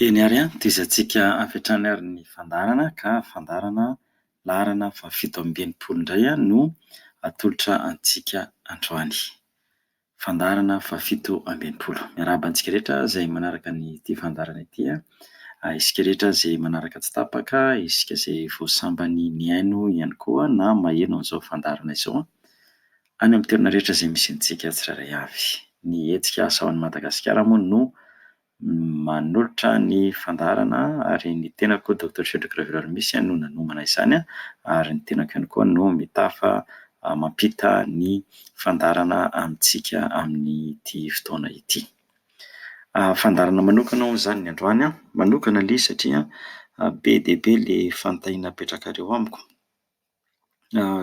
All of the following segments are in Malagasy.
Eny ary an, tezantsika avy hatrany ary ny fandaharana ka fandaharana laharana fahafito amby enimpolo indray no atolotra antsika androany. Fandaharana fahafito amby enimpolo. Miarahaba antsika rehetra izay manaraka an'ity fandaharana ity an, ary isika rehetra izay manaraka tsy tapaka, isika izay vao sambany nihaino ihany koa na maheno an'izao fandaharana izao an, Any amin'ny toerana rehetra izay misy antsika tsirairay avy. Ny hetsika Asa ao Madagasikara moa no manolotra ny fandaharana ary ny tenako Doctor Cedric Raveloaro Missa no nanomana izany ary ny tenako ihany koa no mitafa mampita ny fandaharana amintsika amin'ity fotoana ity. Fandaharana manokana hono izany ny androany an, manokana anie satria be dia be ilay fanontaniana apetrakareo amiko.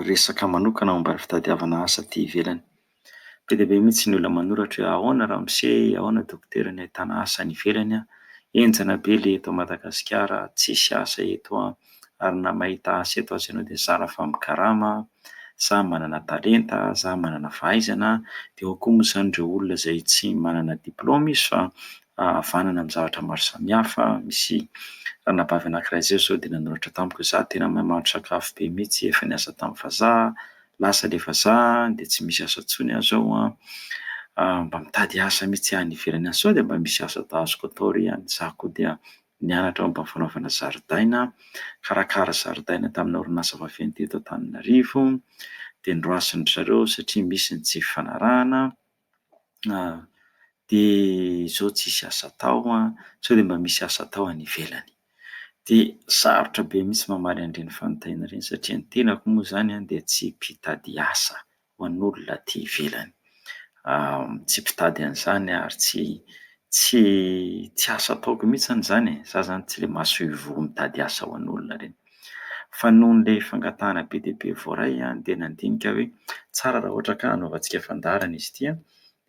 resaka manokana momba ny fitadiavana asa aty ivelany. Be dia be mihitsy ny olona manoratra hoe ahoana ramose, ahoana dokotera ny ahitana asa any ivelany an, henjana be ilay eto Madagasikara, tsisy asa eto an, ary na mahita asa eto aza ianao dia zara fa mikarama, sa manana talenta, sa manana fahaizana, dia ao koa moa izany ireo olona izay tsy manana diplaoma izy fa havanana amin'ny zavatra maro samihafa. Misy ranabavy anankiray izao izao dia nanoratra tamiko hoe izaho tena mahay mahandro sakafo be mihitsy, efa niasa tamin'ny vazaha, lasa ilay vazaha dia tsy misy asa intsony aho izao an, mba mitady asa mihitsy aho any ivelany any, sao dia mba misy asa azoko atao re any, izaho koa dia nianatra momba ny fanaovana zaridaina, nikarakara zaridaina tamina orinasa vaventy teto Antananarivo, dia noroasin-dry zareo satria misy ny tsy fifanarahana. an, dia zao tsisy asa atao an, sao dia mba misy asa atao any ivelany. Dia sarotra be mihitsy mamaly an'ireny fanontaniana ireny satria ny tenako moa izany an dia tsy mpitady asa ho an'olona aty ivelany, tsy mpitady an'izany aho ary tsy tsy tsy asa ataoko mihitsy izany e, za zany tsy le masoivoho mitady asa ho an'olona ireny. Fa noho ilay fangatahana be dia be voaray dia nandinika aho hoe tsara raha ohatra ka hanaovantsika fandaharana izy ity.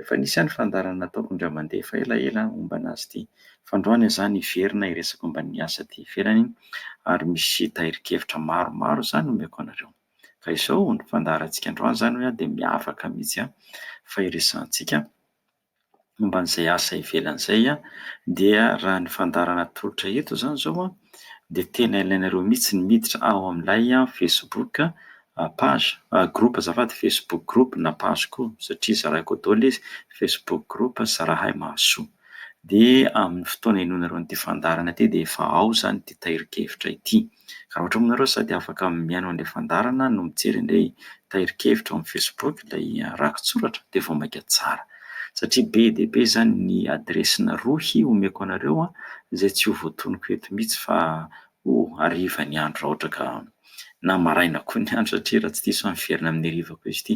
Efa nisy ihany fandaharana nataoko indray mandeha efa elaela momba anazy ity. Fa androany izaho niverina hiresaka momba ny asa aty ivelany ary misy tahirin-kevitra maromaro izany omeko anareo. Ka izao ny fandaharantsika androany izany hoe dia miavaka mihitsy fa iresahantsika momba an'izay asa ivelany izay dia raha ny fandaharana atolotra eto izany izao dia tena ilainareo mihitsy ny miditra ao amin'ilay facebook page, groupe azafady, facebook groupe na page koa satria zaraiko ao daholo izy, facebook groupe zarahay mahasoa. Dia amin'ny fotoana henoinareo an'ity fandaharana ity dia efa ao izany ity tahirin-kevitra ity. Raha ohatra moa ianareo sady afaka mihaino an'ilay fandaharana no mijery an'ilay tahirin-kevitra ao amin'ny Facebook ilay rakitsoratra dia vao mainka tsara. Satria be dia be izany ny adiresina rohy omeko anareo izay tsy ho voatonoko eto mihitsy fa ho hariva ny andro raha ohatra ka na maraina koa ny andro satria raha tsy diso aho miverina amin'ny hariva koa izy ity.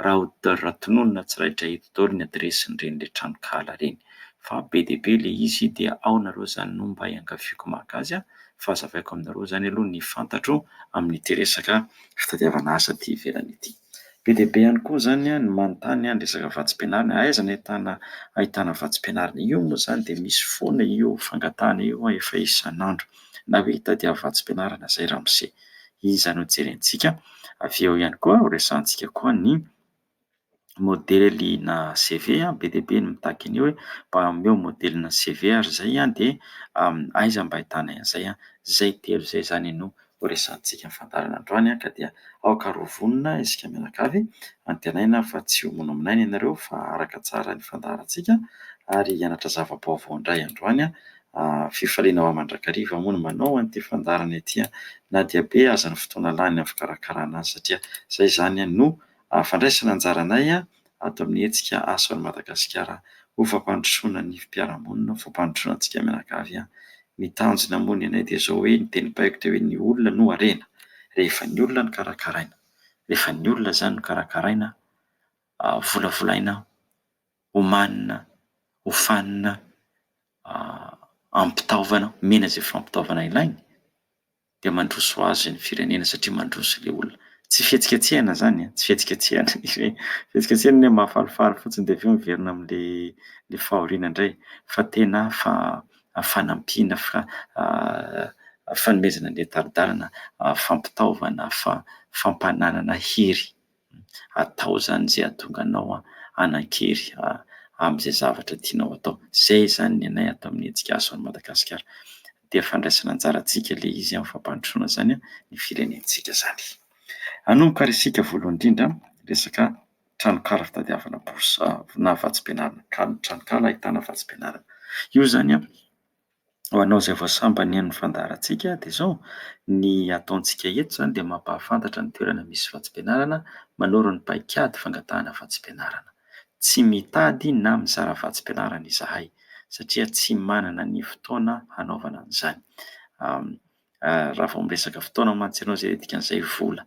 Raha tononina tsy raitra eto daholo ny adiresin'ireny ilay tranonkahala ireny. fa be dia be ilay izy dia ao nareo izany no mba iangaviako maka azy a, fa azavaiko aminareo izany aloha ny fantatro amin'ity resaka fitadiavana asa aty ivelany ity. Be dia be ihany koa izany ny manontany ny resaka vatsim-pianarana, aiza no ahitana ahitana vatsim-pianarana? Io moa izany dia misy foana io fangatahana io an, efa isan'andro na hoe hitadiava vatsim-pianarana izay ramose. Iza no jerentsika? Avy eo ihany koa horesahantsika koa ny. Modelina CV be dia be ny mitaky an'io hoe mba omeo modelina CV ary izay dia aiza mba ahitana an'izay. Izay telo izay izany no ho resahantsika fandaharana androany ka dia aoka ary ho vonona isika mianakavy. Antenaina fa tsy ho monamonaina ianareo fa araka tsara ny fandaharantsika ary hianatra zava-baovao indray androany. Fifaliana ho ahy mandrakariva moa ny manao an'ity fandaharana ity na dia be aza ny fotoana lany amin'ny fikarakarana azy satria izay izany no... fandraisana anjaranay ato amin'ny hetsika Aso an'i Madagasikara ho fampandrosoana ny fiarahamonina, ho fampandrosoana antsika mianakavy. Ny tanjona moa ny anay dia izao hoe ny teny baiko dia hoe ny olona no harena, rehefa ny olona no karakaraina, rehefa ny olona izany no karakaraina, volavolaina, omanina, hofanina, ampitaovana, omena izay fampitaovana ilainy. dia mandroso azy ny firenena satria mandroso ilay olona. Tsy fihetsiketsehana izany an, tsy fihetsiketsehana ilay izy hoe, fihetsiketsehana ilay hoe mahafalifaly fotsiny dia avy eo miverina amin'ilay fahoriana indray fa tena fanampiana, fanomezana ny tari-dalana, fampitaovana, fampananana hery. atao zany zay ahatonga anao hanan-kery amin'izay zavatra tianao atao. Zay izany ny anay ato amin'ny Hetsika Aso an'i Madagasikara. Dia fandraisana anjara antsika ilay izy amin'ny fampandrosoana izany ny firenentsika izany. Hanomboka ary isika voalohany indrindra resaka tranonkala fitadiavana bourse na vatsim-pianarana, tranonkala ahitana vatsim-pianarana. Io izany ho anao izay vao sambany ny fandaharantsika dia izao, ny ataontsika eto izany dia mampahafantatra ny toerana misy vatsim-pianarana manoro ny paikady fangatahana vatsim-pianarana. Tsy mitady na mizara vatsim-pianarana izahay satria tsy manana ny fotoana hanaovana an'izany. raha vao miresaka fotoana mantsy ianao izay dikan'izay vola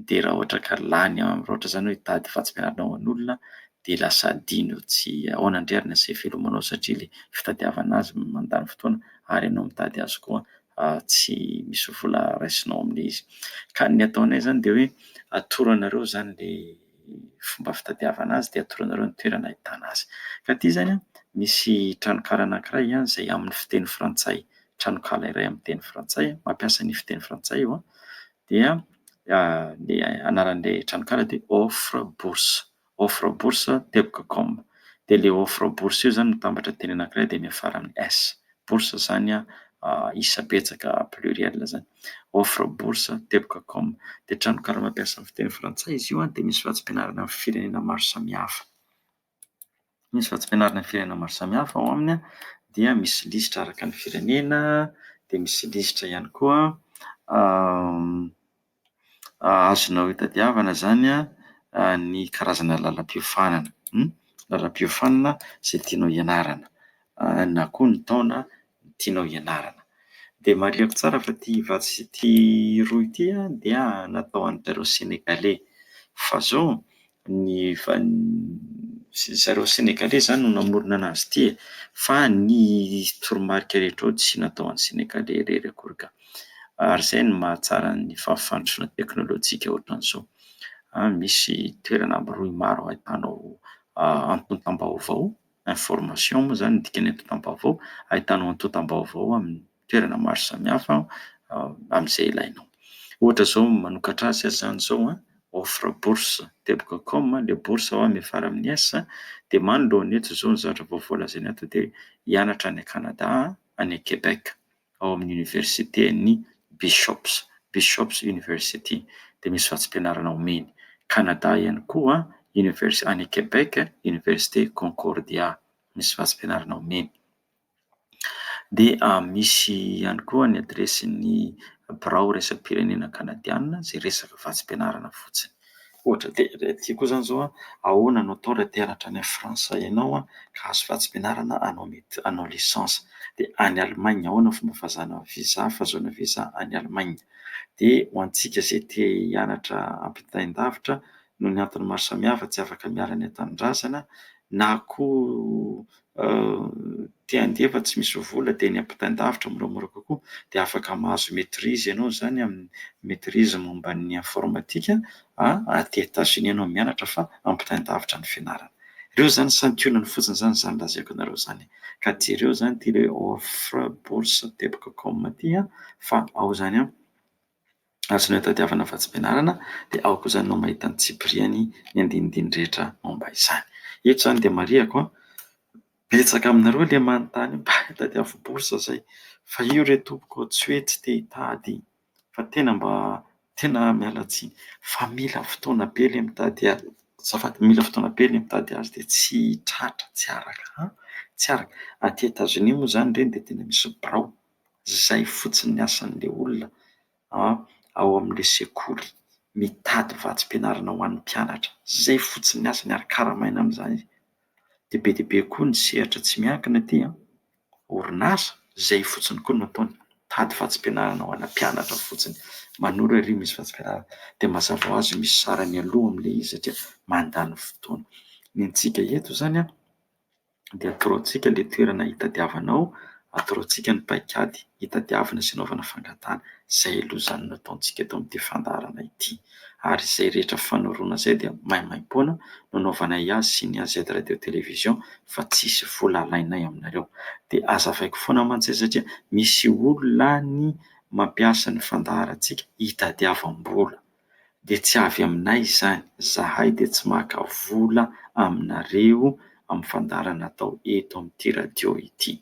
dia raha ohatra ka lany amin'ny raotra izany hoe hitady fahatsiarovana ho an'olona dia lasa adino tsy ahoana indray ary ny asa ivelomanao satria ilay fitadiavana azy mandany fotoana ary ianao mitady azy koa tsy misy vola raisinao amin'ilay izy ka ny ataonay izany dia hoe atoro anareo izany ilay ny fomba fitadiavana azy dia atoronareo ny toerana ahitana azy. Ka aty izany misy tranonkala anankiray izay amin'ny fiteny frantsay, tranonkala iray amin'ny teny frantsay, mampiasa ny fiteny frantsay io, dia ny anaran'ilay tranonkala dia offre bourse, offre bourse teboka com, dia ilay offre bourse io izany mitambatra teny anankiray dia miafara amin'ny S bourse zany a isa betsaka pluriel zany offre bourse teboka com dia tranonkala mampiasa ny fiteny frantsay izy io dia misy vatsim-pianarana amin'ny firenena maro samihafa misy vatsim-pianarana amin'ny firenena maro samihafa ao aminy a dia misy lisitra araka ny firenena dia misy lisitra ihany koa azonao itadiavana izany ny karazana lalam-piofanana, lalam-piofanana izay tianao hianarana na koa ny taona tianao hianarana. Dia marihiko tsara fa ity vatsy sy ity roa ity dia natao ho an'dry zareo Senegaley fa zao ny ry zareo Senegaley izany no namorona anazy ity e! fa ny toromarika rehetra ao tsy natao an'ny Senegaley irery akory ka! ary izay no mahatsara ny fahafantrana teknolojika ohatran'izao, misy toerana amby roa maro ahitanao antontam-baovao, information moa izany no dikany antontam-baovao, ahitanao antontam-baovao aminy. toerana maro samihafa amin'izay ilainao. Ohatra izao manokatra azy aza izany izao a, offre bourse teboka com a, le bourse ao a miafara amin'ny S a, dia manoloana eto izao ny zavatra vaovao lazaina ato dia hianatra any Canada aho, any Québec, ao amin'ny oniversiten'i Bishops, Bishops University, dia misy vatsim-pianarana omeny. Canada ihany koa, univers- any Québec, oniversite Concordia, misy vatsim-pianarana omeny. dia misy ihany koa ny adiresin'ny birao iraisam-pirenena kanadiana izay resaka vatsim-pianarana fotsiny. Ohatra dia ilay aty koa izany izao, ahoana no atao raha te hianatra any Frantsa ianao ka hahazo vatsim-pianarana hanao médecine, hanao licence? dia any Allemagne ahoana ny fomba fahazana visa, fahazoana visa any Allemagne? dia ho antsika izay te hianatra ampitain-davitra noho ny antony maro samihafa tsy afaka miala ny an-tanindrazana na koa te handeha fa tsy misy vola dia ny ampitain-davitra moramora kokoa dia afaka mahazo maitrise ianao izany amin'ny maitrise momba ny informatika aty Etats-Unis ianao mianatra fa ampitain-davitra ny fianarana. Ireo izany santionany fotsiny izany izany lazaiko anareo izany ka jereo izany ity hoe offre bourse teboka com ity fa ao izany an! Azonay tadiavina fa tsy fianarana dia ao kosa no mahita ny tsipiriany ny andinindiny rehetra momba izany. Eto izany dia marihiko an! Betsaka aminareo ilay manontany hoe mba tadiavo bourse zay fa io re tompoko tsy hoe tsy te hitady fa tena mba tena miala tsiny fa mila fotoana be ilay mitady azy azafady mila fotoana be ilay mitady azy dia tsy tratra tsy araka an! tsy araka. Aty Etazonia moa izany ireny dia tena misy birao. zay fotsiny ny asan'le olona ao amle sekoly mitady vatsim-pianarana ho an'ny mpianatra zay fotsiny ny asany ary karamaina amzany izy de be dia be koa ny sehatra tsy miankina aty an, orinasa zay fotsiny koa no ataony mitady vatsim-pianarana ho ana mpianatra fotsiny manoro ery misy vatsim-pianarana de mazava ho azy misy sarany aloha amle izy satria mandany fotoana, ny antsika eto zany an. dia atorontsika ilay toerana hitadiavanao, atorontsika ny paikady hitadiavana sy hanaovana fangatahana, izay aloha izany no ataontsika eto amin'ity fandaharana ity. Ary izay rehetra fanoroana izay dia maimaim-poana no anaovanay azy sy ny AZ Radio Télévision fa tsisy vola alainay aminareo. Dia azavaiko foana mantsy izay satria misy olona any mampiasa ny fandaharantsika hitadiavam-bola. dia tsy avy aminay izany, zahay dia tsy maka vola aminareo amin'ny fandaharana atao eto amin'ity radio ity.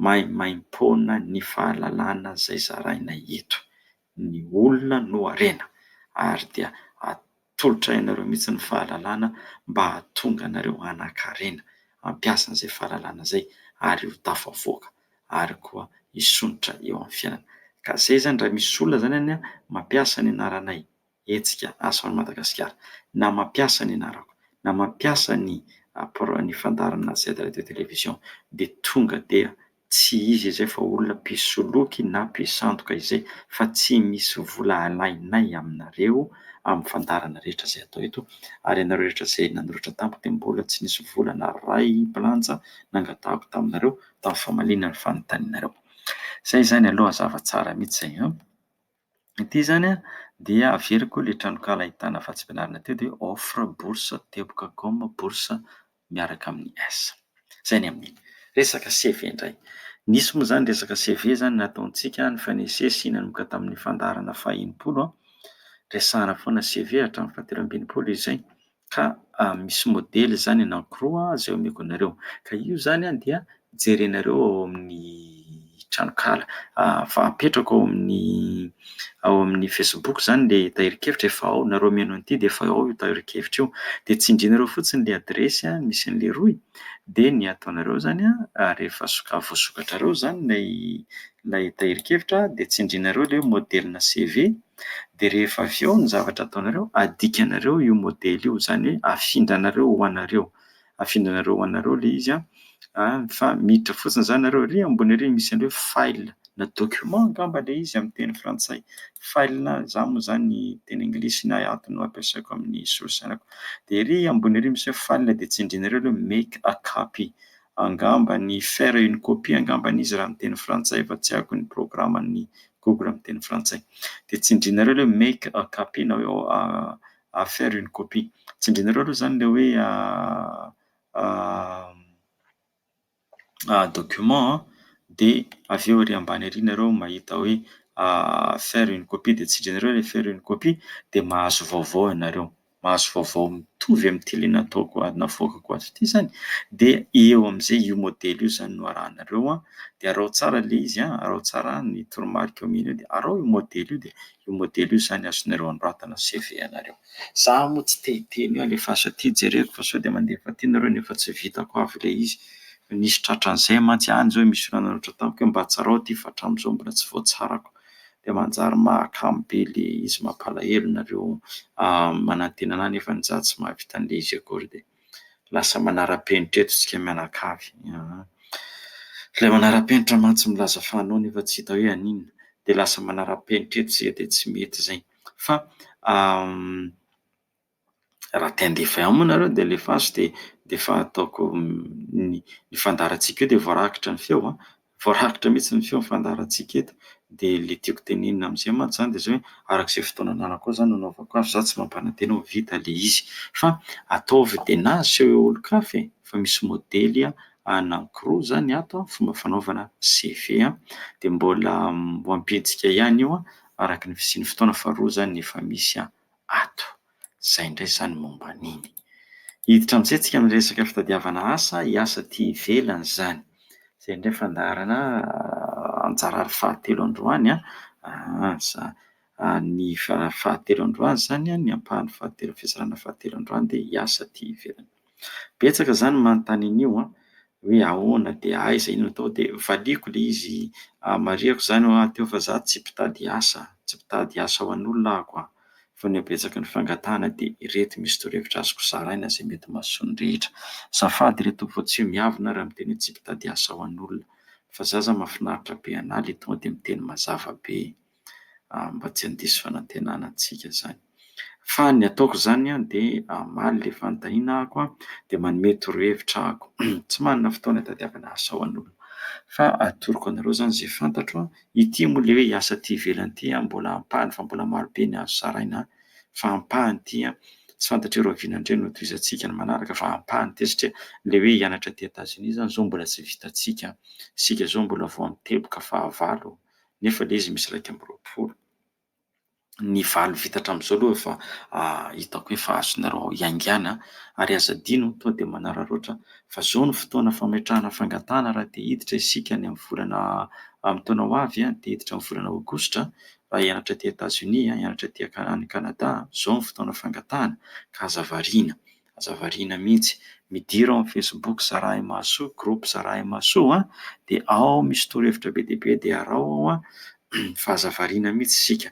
Maimaimpoana ny fahalalana izay zarainay eto. Ny olona no harena ary dia atolotra ianareo mihitsy ny fahalalana mba hahatonga anareo hanan-karena hampiasa izay fahalalana izay ary ho tafavoaka. ary koa hisondrotra eo amin'ny fiainana. Ka izay izany raha misy olona izany anie mampiasa ny anaranay, hetsika Asa ho an'i Madagasikara, na mampiasa ny anarako, na mampiasa ny ny fandaharan'i Na Z Radio Télévision dia tonga dia tsy izy izay fa olona mpisoloky na mpisandoka izay fa tsy misy vola alainay aminareo amin'ny fandaharana rehetra izay atao eto ary ianareo rehetra izay nanoratra tamiko dia mbola tsy nisy vola naray bilanja nangatahako taminareo. atao famaliana ny fanontanianareo. Izay izany aloha zava tsara mihitsy izay an! Ity izany an dia averiko ilay tranonkala ahitana vatsim-pianarana teo dia offre bourse teboka com bourse miaraka amin'ny S. Izay ny amin'iny. Resaka CV indray. Nisy moa izany resaka CV izany nataontsika nifanesy esy nanomboka tamin'ny fandaharana faha enimpolo an, resahana foana CV hatramin'ny fahatelo amby enimpolo izay. ka misy modely izany anankiroa izay omeko anareo ka io izany dia jerenareo ao amin'ny tranokala fa apetrako ao amin'ny ao amin'ny facebook izany ilay tahirin-kevitra efa ao nareo mihaino an'ity dia efa ao io tahirin-kevitra io dia tsindrinareo fotsiny ilay adiresy an misy an'i leroy dia ny ataonareo izany an rehefa soka- voasokatrareo izany ilay ilay tahirin-kevitra dia tsindrinareo ilay hoe modelina CV Dia rehefa avy eo ny zavatra ataonareo, adikanareo io modely io, izany hoe afindranareo ho anareo. Afindranareo ho anareo ilay izy an, fa miditra fotsiny izany nareo ary ambony ary misy an'ilay hoe file na document angamba ilay izy amin'ny teny frantsay, file na izaho moa izany ny teny anglisy na ato no ampiasaiko amin'ny solosainako. Dia ery ambony ery misy hoe file dia tsindrinareo ilay hoe make a copy, Angamba ny faire une copie angamba an'izy raha miteny frantsay fa tsy haiko ny programan'ny Google miteny frantsay. Dia tsindrinareo ilay hoe make a copy na hoe a faire une copie. Tsindrinareo aloha izany ilay hoe document an, dia avy eo ery ambany ery nareo mahita hoe faire une copie dia tsindrinareo ilay faire une copie dia mahazo vaovao ianareo. mahazo vaovao mitovy amin'ity le nataoko ato navoakako ato ity zany de eo am'zay io modely io zany no arahanareo an de arao tsara le izy an arao tsara ny toromarika eo amin'iny eo de arao io modely io de io modely io zany azonareo anoratana CV anareo za moa tsy te hiteny hoe alefaso aty jereko fa sao de mandefa aty nareo nefa tsy vitako avy le izy fa nisy tratran'zay mantsy any zao misy olana loatra tamiko hoe mba tsarao ty fa hatram'zao mbola tsy voatsarako dia manjary mahakamo be ilay izy, mampalahelo nareo manantena anah nefa ny za tsy mahavita an'ilay izy akory dia lasa manara-penitra eto isika mianakavy aa, ilay manara-penitra mantsy milaza fa anao nefa tsy hita hoe an'inona dia lasa manara-penitra eto isika dia tsy mety izay fa Raha te handefa ihany moa nareo dia alefaso dia dia efa ataoko ny ny fandaharantsika eo dia voarakitra ny feo an! Voarakitra mihitsy ny feo ny fandaharantsika eto. Dia ilay tiako tenenina amin'izay mantsy izany dia izao hoe, araka izay fotoana ananako ao izany no anaovako azy, izaho tsy mampanantena hoe ho vita ilay izy. Fa ataovy dia na aseho eo olon-kafa e! Fa misy modely anankiroa izany ato an, fomba fanaovana CV an, dia mbola ho ampiantsika ihany io an, araka ny fisian'ny fotoana fa roa izany no efa misy an! ato. Izay indray izany momba an'iny. Hiditra amin'izay isika amin'ny resaka fitadiavana asa, hiasa aty ivelany izany. Izay indray fandaharana anjara ary fahatelo androany an, asa. Ny fahatelo androany izany an, ny ampahany fahatelo, fizarana fahatelo androany dia hiasa aty ivelany. Betsaka zany ny manontany an'io an! hoe ahoana dia aiza iny atao dia valiako ilay izy marihiko izany hoe aty aho fa za tsy mpitady asa, tsy mpitady asa ho an'olona aho koa fa ny habetsaky ny fangatahana dia ireto misy torohevitra azoko zaraina izay mety mahasoa ny rehetra. Azafady re tompoko fa tsy ho miavona aho raha miteny hoe tsy mpitady asa ho an'olona fa za zany mahafinaritra be anah ilay tonga dia miteny mazava be. mba tsy handiso fanantenana antsika izany. Fa ny ataoko izany dia hamaly ilay fanontaniana ahako dia manome torohevitra ahako. Tsy manana fotoana hitadiavana asa ho an'olona fa atoroko anareo izany izay fantatro. Ity moa ilay hoe asa aty ivelany ity mbola ampahany fa mbola marobe ny azo zaraina fa ampahany ity. Tsy fantatr'i Rahoviana indray no hotohizantsika ny manaraka fa ampahany ity satria ilay hoe hianatra aty Etazonia izany izao mbola tsy vitantsika. Isika izao mbola vao amin'ny teboka fahavalo. nefa le izy misy iraika amby roapolo. Ny valo vita hatramin'izao aloha efa hitako hoe efa azonareo hiaingàna ary aza adino tonga dia manararaotra fa izao no fotoana fametrahana fangatahana raha te hiditra isika any amin'ny volana amin'ny taona ho avy, te hiditra amin'ny volana aogositra, raha hianatra aty Etazonia, hianatra aty any Kanada, izao no fotoana fangatahana ka aza variana. Aza variana mihitsy. Midira ao amin'ny Facebook Zarahy Mahasoa, groupe Zarahy Mahasoa an, dia ao misy torohevitra be dia be dia araho ao an, fa aza variana mihitsy isika.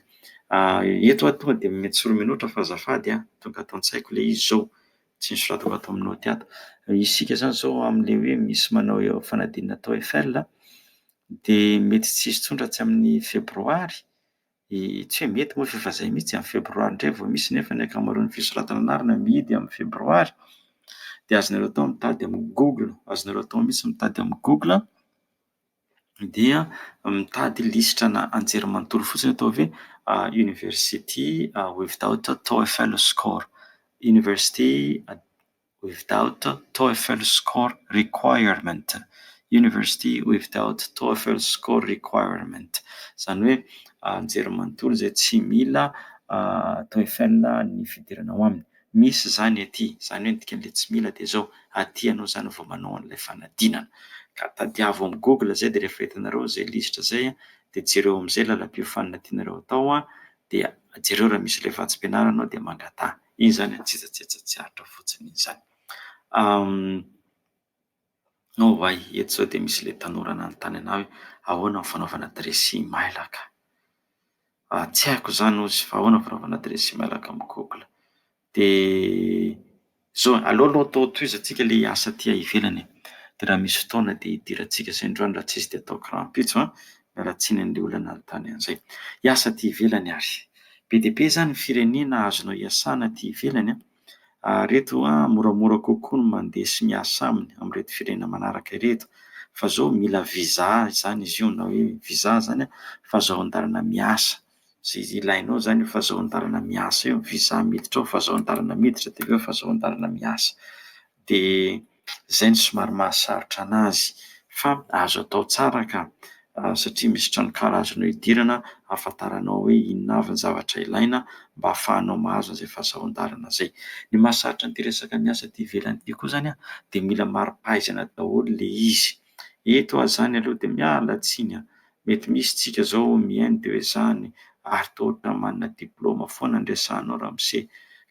Eto aho tonga dia omena tsorominota fa azafady an, tonga ato an-tsaiko ilay izy izao, tsy nosoratako ato amin'ny naoty ato. Isika izany izao amin'ilay hoe misy manao fanadinana TOEFL dia mety tsy hisy tsony raha tsy amin'ny febroary, Tsy hoe mety moa fa efa izay mihitsy, amin'ny febroary indray vao misy nefa ny ankamaroan'ny fisoratana anarana mihidy amin'ny febroary. Dia azonareo atao ny mitady amin'ny google, azonareo atao mihitsy ny mitady amin'ny google dia mitady lisitra ana anjerimanontolo fotsiny atao hoe university without TOEFL score, university. without TOEFL score requirement, University without TOEFL score requirement, izany hoe anjerimanontolo izay tsy mila TOEFL ny fidirana ao aminy. Misy izany ety, izany hoe ny dikan'ilay tsy mila dia izao, aty ianao izany vao manao an'ilay fanadinana. Ka tadiavo amin'ny google izay dia rehefa hitanareo izay lisitra izay dia jereo amin'izay lalam-piofanina tianareo atao dia jereo raha misy ilay vatsim-pianarana ao dia mangataha. Izany antsetsatsetsa tsy aritra fotsiny izany. Nao ho'ahy, eto izao dia misy ilay tanora nanontany an'ahy hoe, ahoana ny fanaovana dressing mailaka? Tsy haiko izany hozy, fa ahoana ny fanaovana dressing mailaka amin'ny google? Dia izao e, aleo aloha atao tohizantsika ilay asa aty ivelany e, dia raha misy fotoana dia idirantsika izay indray andro raha tsy izy dia ataoko rahampitso an, ratsiny an'ilay olona nanontany an'izay. Hiasa aty ivelany ary. Be dia be izany ny firenena azonao iasana aty ivelany an! ary ireto an, moramora kokoa ny mandeha sy miasa aminy amin'ireto firenena manaraka ireto, fa izao mila visa izany izy io na hoe visa izany an, fahazoan-dalana miasa, izay ilainao izany io fahazoan-dalana miasa io, visa miditra ao, fahazoan-dalana miditra dia avy eo fahazoan-dalana miasa. Dia. izay no somary mahasarotra anazy fa azo atao tsara ka satria misy tranonkala azonao idirana ahafantaranao hoe inona avy ny zavatra ilaina mba hahafahanao mahazo an'izay fahasaroan-dalana izay. Ny mahasarotra an'ity resaka miasa aty ivelany ity koa izany dia mila mari-pahaizana daholo ilay izy. Eto ah zany aloha de miala tsiny ah, mety misy tsika zao mihaino de hoe zany ary toa ohatran'ny manana diploma foana ny resahanao ramose.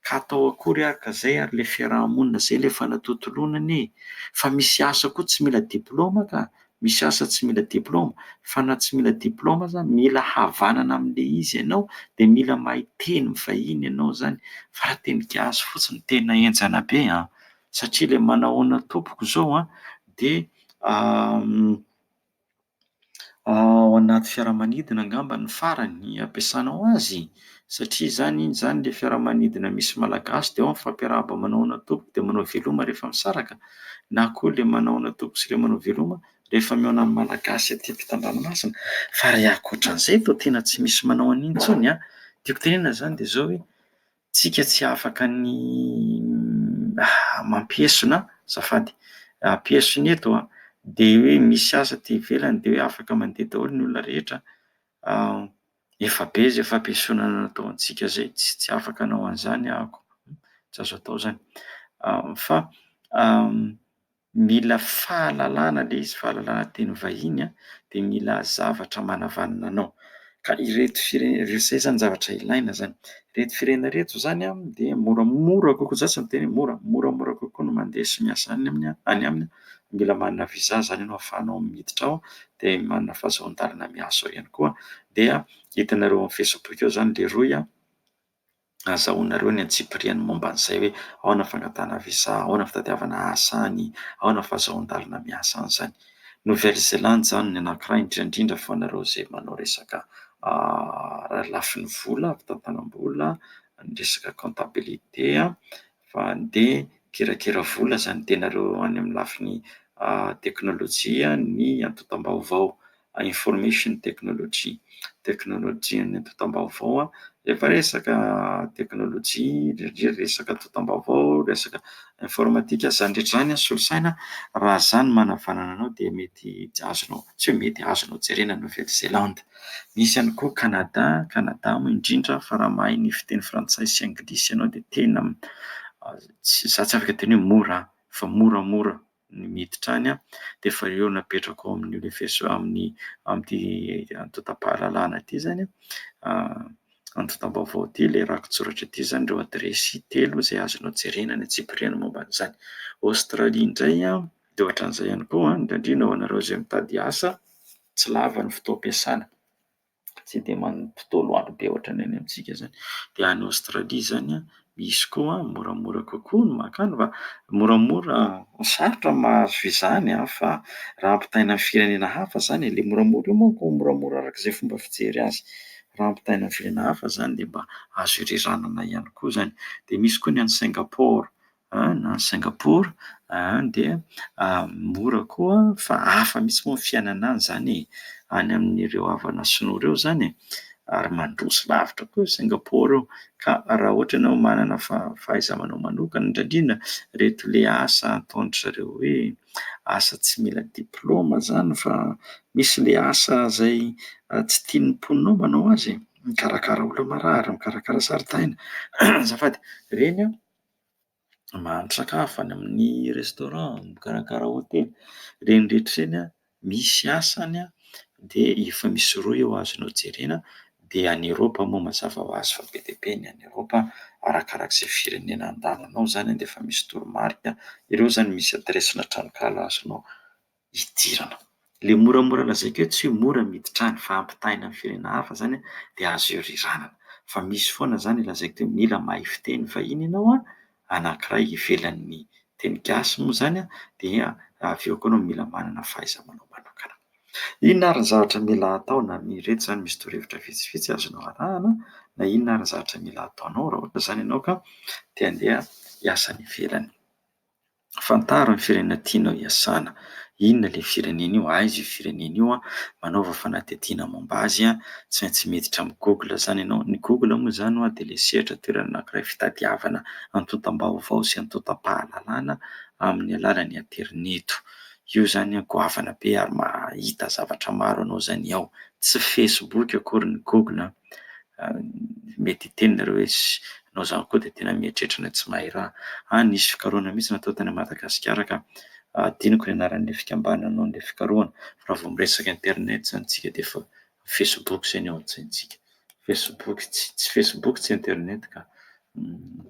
Ka atao akory ary ka zay ary le fiaraha-monina zay le fanatontoloana anie e! Fa misy asa koa tsy mila diploma ka, misy asa tsy mila diploma fa na tsy mila diploma aza mila havanana amle izy ianao de mila mahay teny vahiny ianao zany fa raha teny gasy fotsiny tena enjana be an! satria ilay manahoana tompoko izao an, dia ao anaty fiaramanidina angamba ny farany ampiasanao azy satria izany iny izany ilay fiaramanidina misy malagasy dia ao ny fampiarahaba manahoana tompoko dia manao veloma rehefa misaraka na koa ilay manahoana tompoko sy ilay manao veloma rehefa mihaona amin'ny malagasy aty ampitan-dranomasina fa raha ankoatra an'izay toa tena tsy misy manao an'iny intsony an, tiako tenenana izany dia izao hoe tsika tsy afaka ny mampiesona azafady ampiesona eto an de hoe misy asa aty ivelany de hoe afaka mandeha daholo ny olona rehetra efa be zay fampiesona natao antsika zay tsy tsy afaka anao an'izany aho ko tsy azo atao zany fa Mila fahalalana le izy, fahalalana teny vahiny an, dia mila zavatra manavanana anao. Ka ireto fire- izay izany zavatra ilaina izany. Ireto firenena ireto izany an, dia moramora kokoa, za tsy miteny hoe mora, moramora kokoa ny mandeha sy miasa any aminy an, any aminy. Mila manana visa izany ianao ahafahanao miditra ao, dia manana fahazon-dalana miasa ao ihany koa. Dia hitanareo amin'ny facebook ao izany le rohy an. azahoanareo ny antsipiriany momba an'izay hoe ahoana ny fangatahana visa, ahoana ny fitadiavana asa any, ahoana ny fahazoan-dalana miasa any izany. Nouvelle Zélande izany ny anankiray indrindra indrindra fa anareo izay manao resaka lafiny vola, fitantanam-bola, ny resaka comptabilité. fa andeha kirakira vola zany tenareo any amin'ny lafiny teknolojia ny antontam-baovao, information technology, teknolojian'ny antontam-baovao, rehefa resaka teknolojia dia resaka antontam-baovao, resaka informatika, zany rehetra zany an, solosaina raha za no manavanana anao dia mety azonao, tsy hoe mety, azonao jerena Nouvelle-Zélande. Misy ihany koa Canada, Canada moa indrindra fa raha mahay ny fiteny frantsay sy anglisy ianao dia tena za tsy afaka hiteny hoe mora an, fa moramora ny miditra any dia efa eo napetraka ao amin'ny universi- amin'ny amin'ity antontam-pahalalana ity izany antontam-baovao ity ilay rakitsoratra ity izany ireo adiresy telo izay azonao jerena any antsipiriany momba an'izany. Australie indray dia ohatran'izay ihany koa an, indrindra ho anareo izay mitady asa. tsy lava ny fotoam-piasana, tsy dia mampitao loatra be ohatran'ny any amintsika izany. Dia any Aostralia izany misy koa moramora kokoa ny mankany fa moramora, sarotra ny mahazo visa any fa raha ampitahaina amin'ny firenena hafa izany e, ilay moramora io manko moramora araka izay fomba fijery azy, raha ampitahaina amin'ny firenena hafa izany dia mba azo ireranana ihany koa izany. Dia misy koa ny any Singapaoro. Any Singapour any dia mora koa fa hafa mihitsy moa ny fiainana any izany e, any amin'ireo havana sinoa ireo izany e, ary mandroso lavitra koa i Singapour io ka raha ohatra ianao manana fahaiza-manao manokana indrindra indrindra ireto le asa ataon-dry zareo hoe asa tsy mila diplaoma izany fa misy le asa izay tsy tian'ny mponinao manao azy e, mikarakara olona marary, mikarakara zaridaina, azafady, ireny an. mahandro sakafo any amin'ny restaurant, mikarakara hotely, ireny rehetra ireny misy asany dia efa misy rohy eo azonao jerena dia any Eropa moa mazava ho azy fa be dia be ny any Eropa arakaraka izay firenena andehananao izany dia efa misy toromarika, ireo izany misy adiresina tranonkala azonao. hidirana. Ilay moramora lazaiko eo tsy hoe mora ny miditra any fa ampitahaina amin'ny firenena hafa izany dia azo ioriranana. Fa misy foana izany lazaiko teo mila mahay fiteny vahiny ianao an, anankiray ivelan'ny teny gasy moa izany an, dia avy eo koa ianao mila manana fahaiza-manao manokana. Inona ary ny zavatra mila atao na ireto izany misy torohevitra vitsivitsy azonao arahana na inona ary ny zavatra mila ataonao raha ohatra izany ianao ka te handeha hiasa any ivelany. Fantaro ny firenena tianao hiasana. Inona ilay firenena io? Aiza io firenena io? Manaova fanadihadiana momba azy. Tsy maintsy miditra amin'ny Google izany ianao. Ny Google moa izany dia ilay sehatra toerana anankiray fitadiavana antontam-baovao sy antontam-pahalalana amin'ny alalan'ny aterineto. Io izany goavana be ary mahita zavatra maro anao izany ao. Tsy Facebook akory ny Google an! mety hiteny nareo hoe anao zany koa dia tena mieritreritra ilay tsy mahay raha ah nisy fikarohana mihitsy natao tany Madagasikara ka adinoko ny anaran'ilay fikambanana nanao an'ilay fikarohana fa raha vao miresaka internet zany tsika dia efa facebook zay ny ao an-tsaintsika facebook tsy tsy facebook tsy internet ka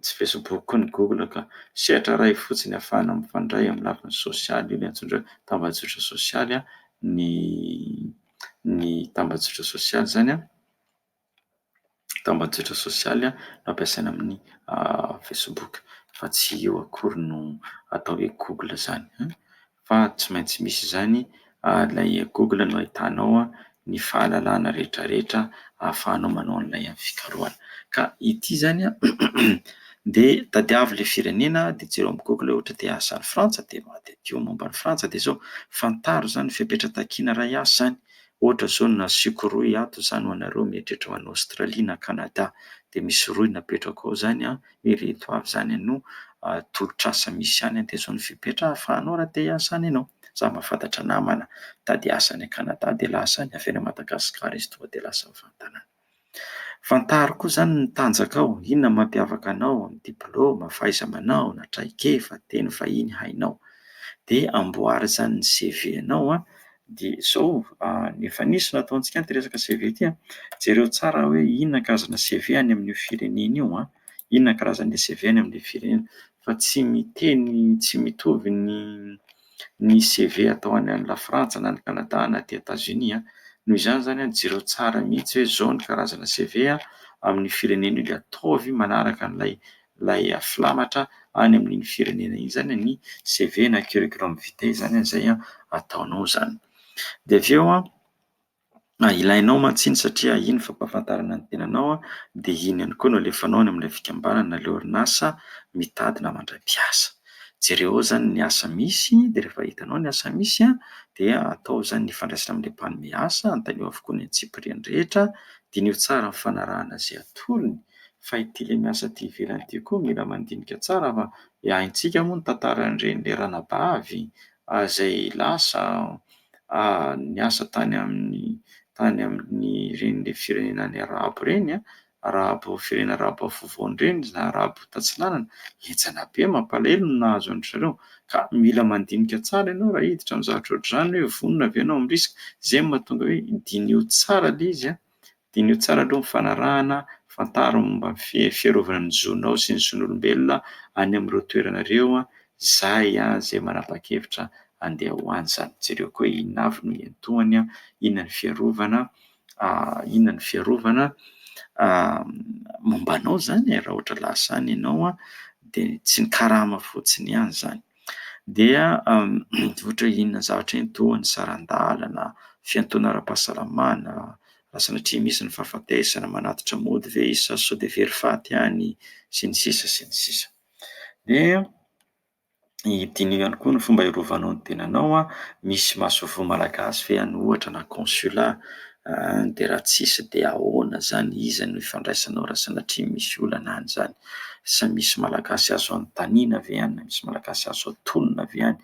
tsy facebook koa ny google ka sehatra iray fotsiny afahana mifandray amin'ny lafiny sosialy io ny antsoindreo tambajotra sosialy ny ny tambajotra sosialy izany, tambajotra sosialy ampiasaina amin'ny facebook fa tsy io akory no atao hoe google izany fa tsy maintsy misy izany ary ilay google no ahitanao ny fahalalana rehetrarehetra ahafahanao manao an'ilay fikarohana ka ity izany Dia tadiavo ilay firenena dia jereo amin'ny google hoe ohatra dia asa any Frantsa dia madidio momba an'i Frantsa dia izao, fantaro izany fepetra takiana iray asa any, ohatra izao na sioko rohy ato izany ho anareo mieritreritra ho any Australie na Canada dia misy rohy napetrako ao izany an, ireto avy izany no tolotr'asa misy any dia izao no fepetra ahafahanao raha te hiasa any ianao, za mahafantatra namana mitady asa any Canada dia lasa any, avy any Madagascar izy tonga dia lasa mivantana any. Fantaro koa izany ny tanjakao, inona no mampiavaka anao, ny diplaoma, fahaiza-manao na traikefa, teny vahiny hainao. Dia amboary izany ny CV-nao an, dia izao efa nisy nataontsika ity resaka CV ity an, jereo tsara hoe inona karazana CV any amin'io firenena io an, inona karazana CV any amin'ilay firenena fa tsy miteny tsy mitovy ny ny CV atao any any Lafrantsa na any Canada na aty Etats Unis an! noho izany izany an! jereo tsara mihitsy hoe izao ny karazana CV amin'ny firenena io dia ataovy manaraka an'ilay ilay filamatra any amin'iny firenena iny izany ny CV na curriculum vitae izany an! izay an! ataonao izany dia avy eo an! Na ilainao mantsy iny satria iny ny fampahafantarana ny tenanao dia iny ihany koa no alefanao any amin'ilay fikambanana na ilay orinasa mitady na mandray mpiasa. Jereo ao izany ny asa misy dia rehefa hitanao ny asa misy dia atao izany ny hifandraisana amin'ilay mpanome asa, anontanio avokoa ny antsipiriany rehetra, diniho tsara ny fanarahana izay atolony fa ity ilay miasa aty ivelany ity koa mila mandinika tsara fa haintsika moa ny tantaran'ireny ranabavy izay lasa niasa tany amin'ny tany amin'ireny firenena any arabo ireny an, arabo firenena arabo afovoany ireny na arabo tatsinanana, henjana be mampalahelo ny nahazo an-dry zareo ka mila mandinika tsara ianao raha hiditra amin'ny zavatra ohatr'izany hoe vonona ve ianao amin'ny risika, izay no mahatonga hoe diniho tsara ilay izy an, Diniho tsara aloha ny fanarahana, fantaro ny momba ny fiarovana ny zonao sy ny zon'olombelona any amin'ireo toerana ireo, izay izay manapa-kevitra handeha ho any izany. Jereo koa hoe inona avy no iantohany, inona ny fiarovana, inona ny fiarovana momba anao izany e, raha ohatra lasa any ianao dia tsy ny karama fotsiny ihany izany. dia ohatra hoe inona zavatra iny toa ny saran-dalana, fiantoana ara-pahasalamana, raha sanatria misy ny fahafatesana, manatitra mody ve izy sa sao dia very faty ihany sy ny sisa sy ny sisa. Dia diniho ihany koa ny fomba hiarovanao ny tenanao, misy masoivoho malagasy ve any ohatra na consulat An de raha tsisy de ahoana zany iza no ifandraisanao raha sanatria misy olana any zany? Sa misy malagasy azo anontaniana ve any na misy malagasy azo atonina ve any?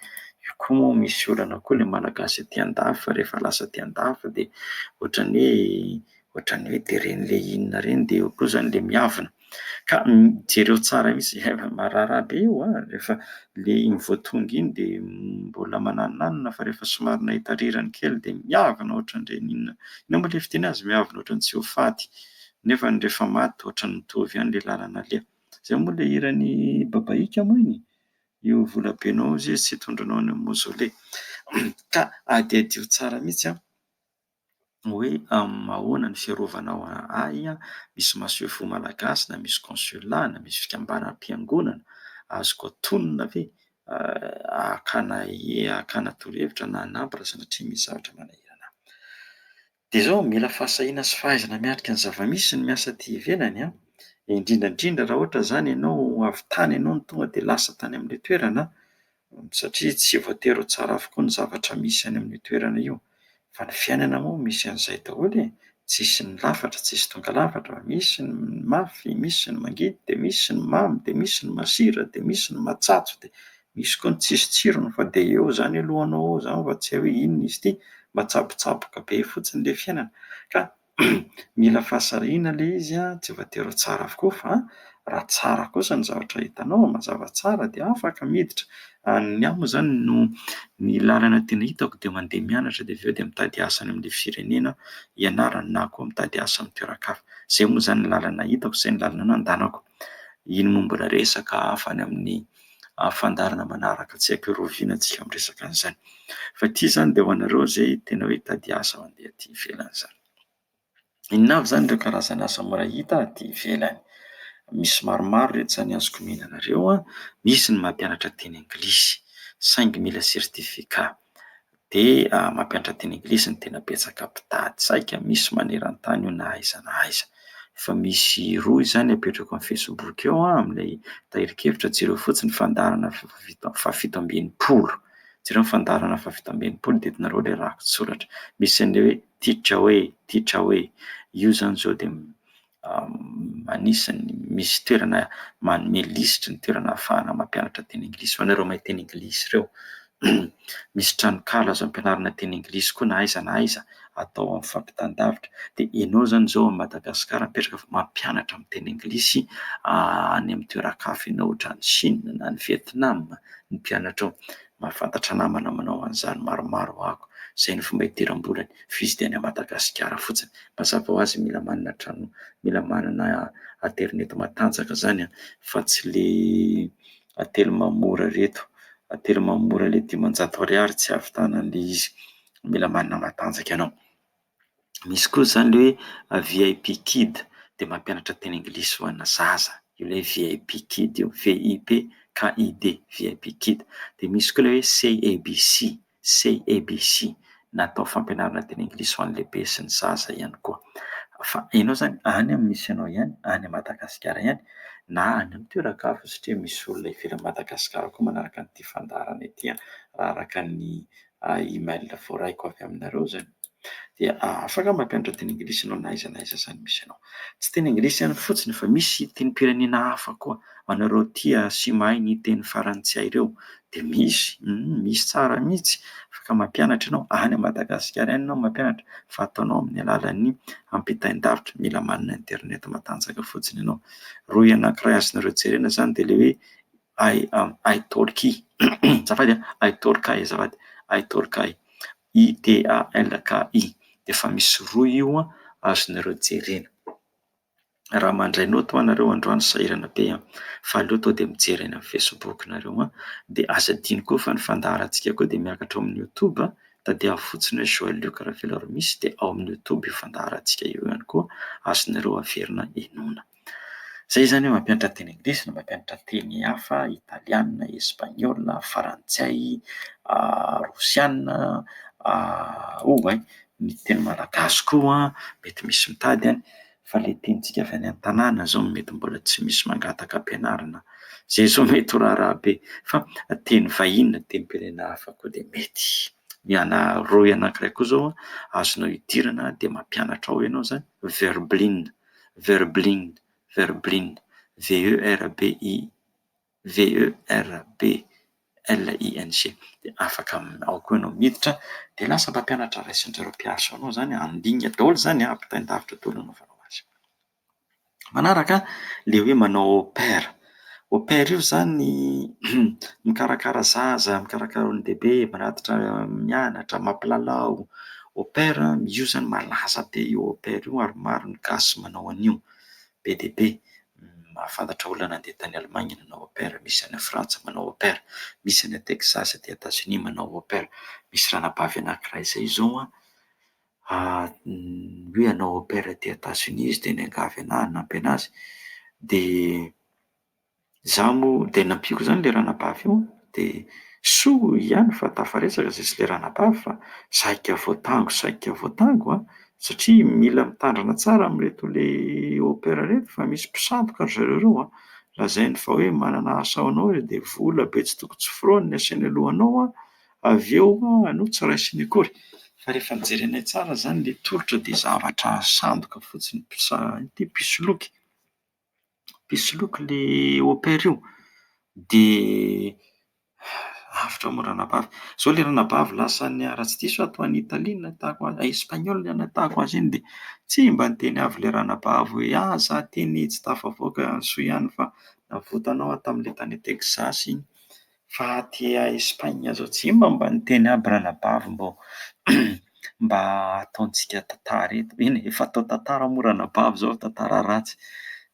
Io koa moa misy olana koa le malagasy aty andafy fa rehefa lasa aty andafy de ohatran'ny hoe ohatran'ny hoe de reny le inona reny de eo koa zany le miavona. Ka jereo tsara izy efa marara be io an! Rehefa le iny vao tonga iny de mbola mananonanona fa rehefa somary nahita rirany kely de miavona ohatran'ireny inona inona moa le fiteny azy miavona ohatran'ny tsy ho faty nefa ny rehefa maty ohatran'ny mitovy ihany le lalana aleha. Zay moa le hiran'i Babaïka moa iny? Io volabenao izay tsy hitondranao any amin'ny mausolée. Ka adiadio tsara mihitsy an! hoe ahoana ny fiarovanao ahy an, misy masoivoho malagasy na misy consulat na misy fikambanam-piangonana azoko atonina ve hakana hakana torohevitra na hanampy raha sanatria misy zavatra manahirana ahy. Dia izao, mila fahasahiana sy fahaizana miatrika ny zava-misy ny miasa aty ivelany an, indrindra indrindra raha ohatra izany ianao avy tany ianao no tonga dia lasa tany amin'ilay toerana an, satria tsy voatery ho tsara avokoa ny zavatra misy any amin'io toerana io fa ny fiainana moa misy an'izay daholo e! tsisy ny lafatra tsisy tonga lafatra, misy ny mafy, misy ny mangidy dia misy ny mamy dia misy ny masira dia misy ny matsatso dia misy koa ny tsisy tsirony fa dia eo izany aloha anao ao izany fa tsy hay hoe inona izy ity, matsabotsaboka be fotsiny ilay fiainana ka mila fahasarihina ilay izy an, tsy voatery ho tsara avokoa fa raha tsara kosa ny zavatra hitanao mazava tsara dia afaka miditra, ny ahy moa izany no ny lalana tena hitako dia mandeha mianatra dia avy eo dia mitady asa any amin'ilay firenena ianarana na koa mitady asa amin'ny toeran-kafa, izay moa izany ny lalana hitako, izay ny lalana nandanako, iny moa mbola resaka hafa any amin'ny. fandaharana manaraka tsy haiko hiroviana antsika amin'ny resaka an'izany fa ity izany dia ho anareo izay tena hoe hitady asa mandeha aty ivelany izany inona avy izany ireo karazana asa mora hita aty ivelany misy maromaro reto izany azoko omena anareo an misy ny mampianatra teny anglisy saingy mila certificat dia mampiantra teny anglisy no tena betsaka mpitady saika misy maneran-tany io na aiza na aiza. Efa misy rohy izany apetrako amin'ny facebook eo an, amin'ilay tahirin-kevitra, jereo fotsiny ny fandaharana fahafito fahafito amby enimpolo, jereo ny fandaharana fahafito amby enimpolo dia hitanareo ilay rakitsoratra, misy an'ilay hoe titre hoe, titre hoe, io izany izao dia anisan'ny misy toerana manome lisitry ny toerana ahafahana mampianatra teny anglisy ho anareo mahay teny anglisy ireo. Misy tranonkala azo ampianarana teny anglisy koa na aiza na aiza atao amin'ny fampitan-davitra. Dia ianao izany izao amin'i Madagasikara mipetraka fa mampianatra miteny anglisy any amin'ny toeran-kafa ianao, ohatra any Chine na any Vietnam ny mpianatrao. Mahafantatra namana manao an'izany maromaro ho'ako, izay ny fomba idiram-bolany, f'izy dia any Madagasikara fotsiny. Mazava ho azy mila manana trano, mila manana aterineto matanjaka izany an, fa tsy ilay atelma mora ireto, atelma mora ilay dimanjato ariary tsy hahavitanan'ilay izy, mila manana matanjaka ianao. Misy koa izany ilay hoe VIP kid, dia mampianatra teny anglisy ho ana zaza. Io ilay VIP kid io, VIP KID, VIP kid. Dia misy koa ilay hoe CABC, CABC, natao fampianarana teny anglisy ho an'ny lehibe sy ny zaza ihany koa. Fa ianao izany, any amin'ny misy anao ihany, any Madagasikara ihany, na any amin'ny toeran-kafa satria misy olona ivelan'i Madagasikara koa manaraka an'ity fandaharana ity, raha araka ny email voaraiko avy aminareo izay dia afaka mampianatra teny anglisy ianao na aiza na aiza izany misy anao. Tsy teny anglisy ihany fotsiny fa misy tenim-pirenena hafa koa ho anareo tia sy mahay ny teny farantsay ireo dia misy, misy tsara mihitsy afaka mampianatra ianao, any Madagasikara ihany ianao no mampianatra fa ataonao amin'ny alalan'ny ampitain-davitra, mila manana internet matanjaka fotsiny ianao. Rohy anankiray azonareo jerena izany dia ilay hoe I am Italki azafady a, Italki azafady, Italki, I-T-A-L-K-I, dia efa misy rohy io an, azonareo jerena. Raha mandray naoty ho'a nareo androany sahirana be an! fa aleo tonga dia mijery any amin'ny Facebook nareo an! dia aza adino koa fa ny fandaharantsika koa dia miakatra ao amin'ny YouTube, tadiavo fotsiny hoe Joël Luc Ravelarmisy dia ao amin'ny YouTube io fandaharantsika io ihany koa, azonareo averina henoina. Izay izany hoe mampianatra teny anglisy na mampianatra teny hafa, italiana, espaniola, frantsay, rosiana, oh hay, ny teny malagasy koa mety misy mitady any, fa ilay tenintsika avy any an-tanàna izao no mety mbola tsy misy mangataka ampianarina. Izay izao mety ho raharaha be. Fa teny vahiny na tenim-pirenena hafa koa dia mety. Ny ana rohy anankiray koa izao azonao idirana dia mampianatra ao ianao izany, verbline. Verblin, Verblin, V-E-R-B-I-V-E-R-B-L-I-N-G, dia afaka ao koa ianao miditra dia lasa mpampianatra raisin-dry zareo mpiasa ao ianao izany, handingana daholo izany, ampitain-davitra daholo ny hanaovanao azy. Manaraka ilay hoe manao paire. Au pair io izany mikarakara zaza, mikarakara olon-dehibe, mirakitra mianatra, mampilalao. Au pair, io izany malaza be io au pair io ary maro ny gasy manao an'io. Be dia be, mahafantatra olona nandeha tany Allemagne nanao au pair, misy any Frantsa manao au pair, misy any Texas aty Etazonia manao au pair. Misy ranabavy anankiray izay izao an, Hoy ianao au pair aty Etats-Unis izy dia niangavy anahy hanampy anazy, dia izaho moa dia nampiako izany ilay ranabavy io, dia soa ihany fa tafaresaka izay sy ilay ranabavy fa saika voatango saika voatango an! satria mila mitandrina tsara amin'ireto le au pair ireto fa misy mpisandoka ry zareo ireo an! lazainy fa hoe manana asa ho anao dia vola be tsy toko tsy firaony ny asehoany alohanao an! Avy eo aloha tsy raisiny akory fa rehefa jerenay tsara zany le tolotra de zavatra sandoka fotsiny mpisaha ity mpisoloky mpisoloky le opera io de avotra moa ranabavy zao le ranabavy lasany ah raha tsy diso aho toa any Italie no nahitako azy any Espagnol no nahitako azy iny de tsy mba niteny avy le ranabavy hoe ah za teny tsy tafavoaka soa ihany fa navotanao aho tamle tany Texas iny Fa aty a Espagne zao tsy mba mba niteny aby ranabavy mbô mba ataontsika tantara eto. Eny efa atao tantara moa ranabavy zao fa tantara ratsy.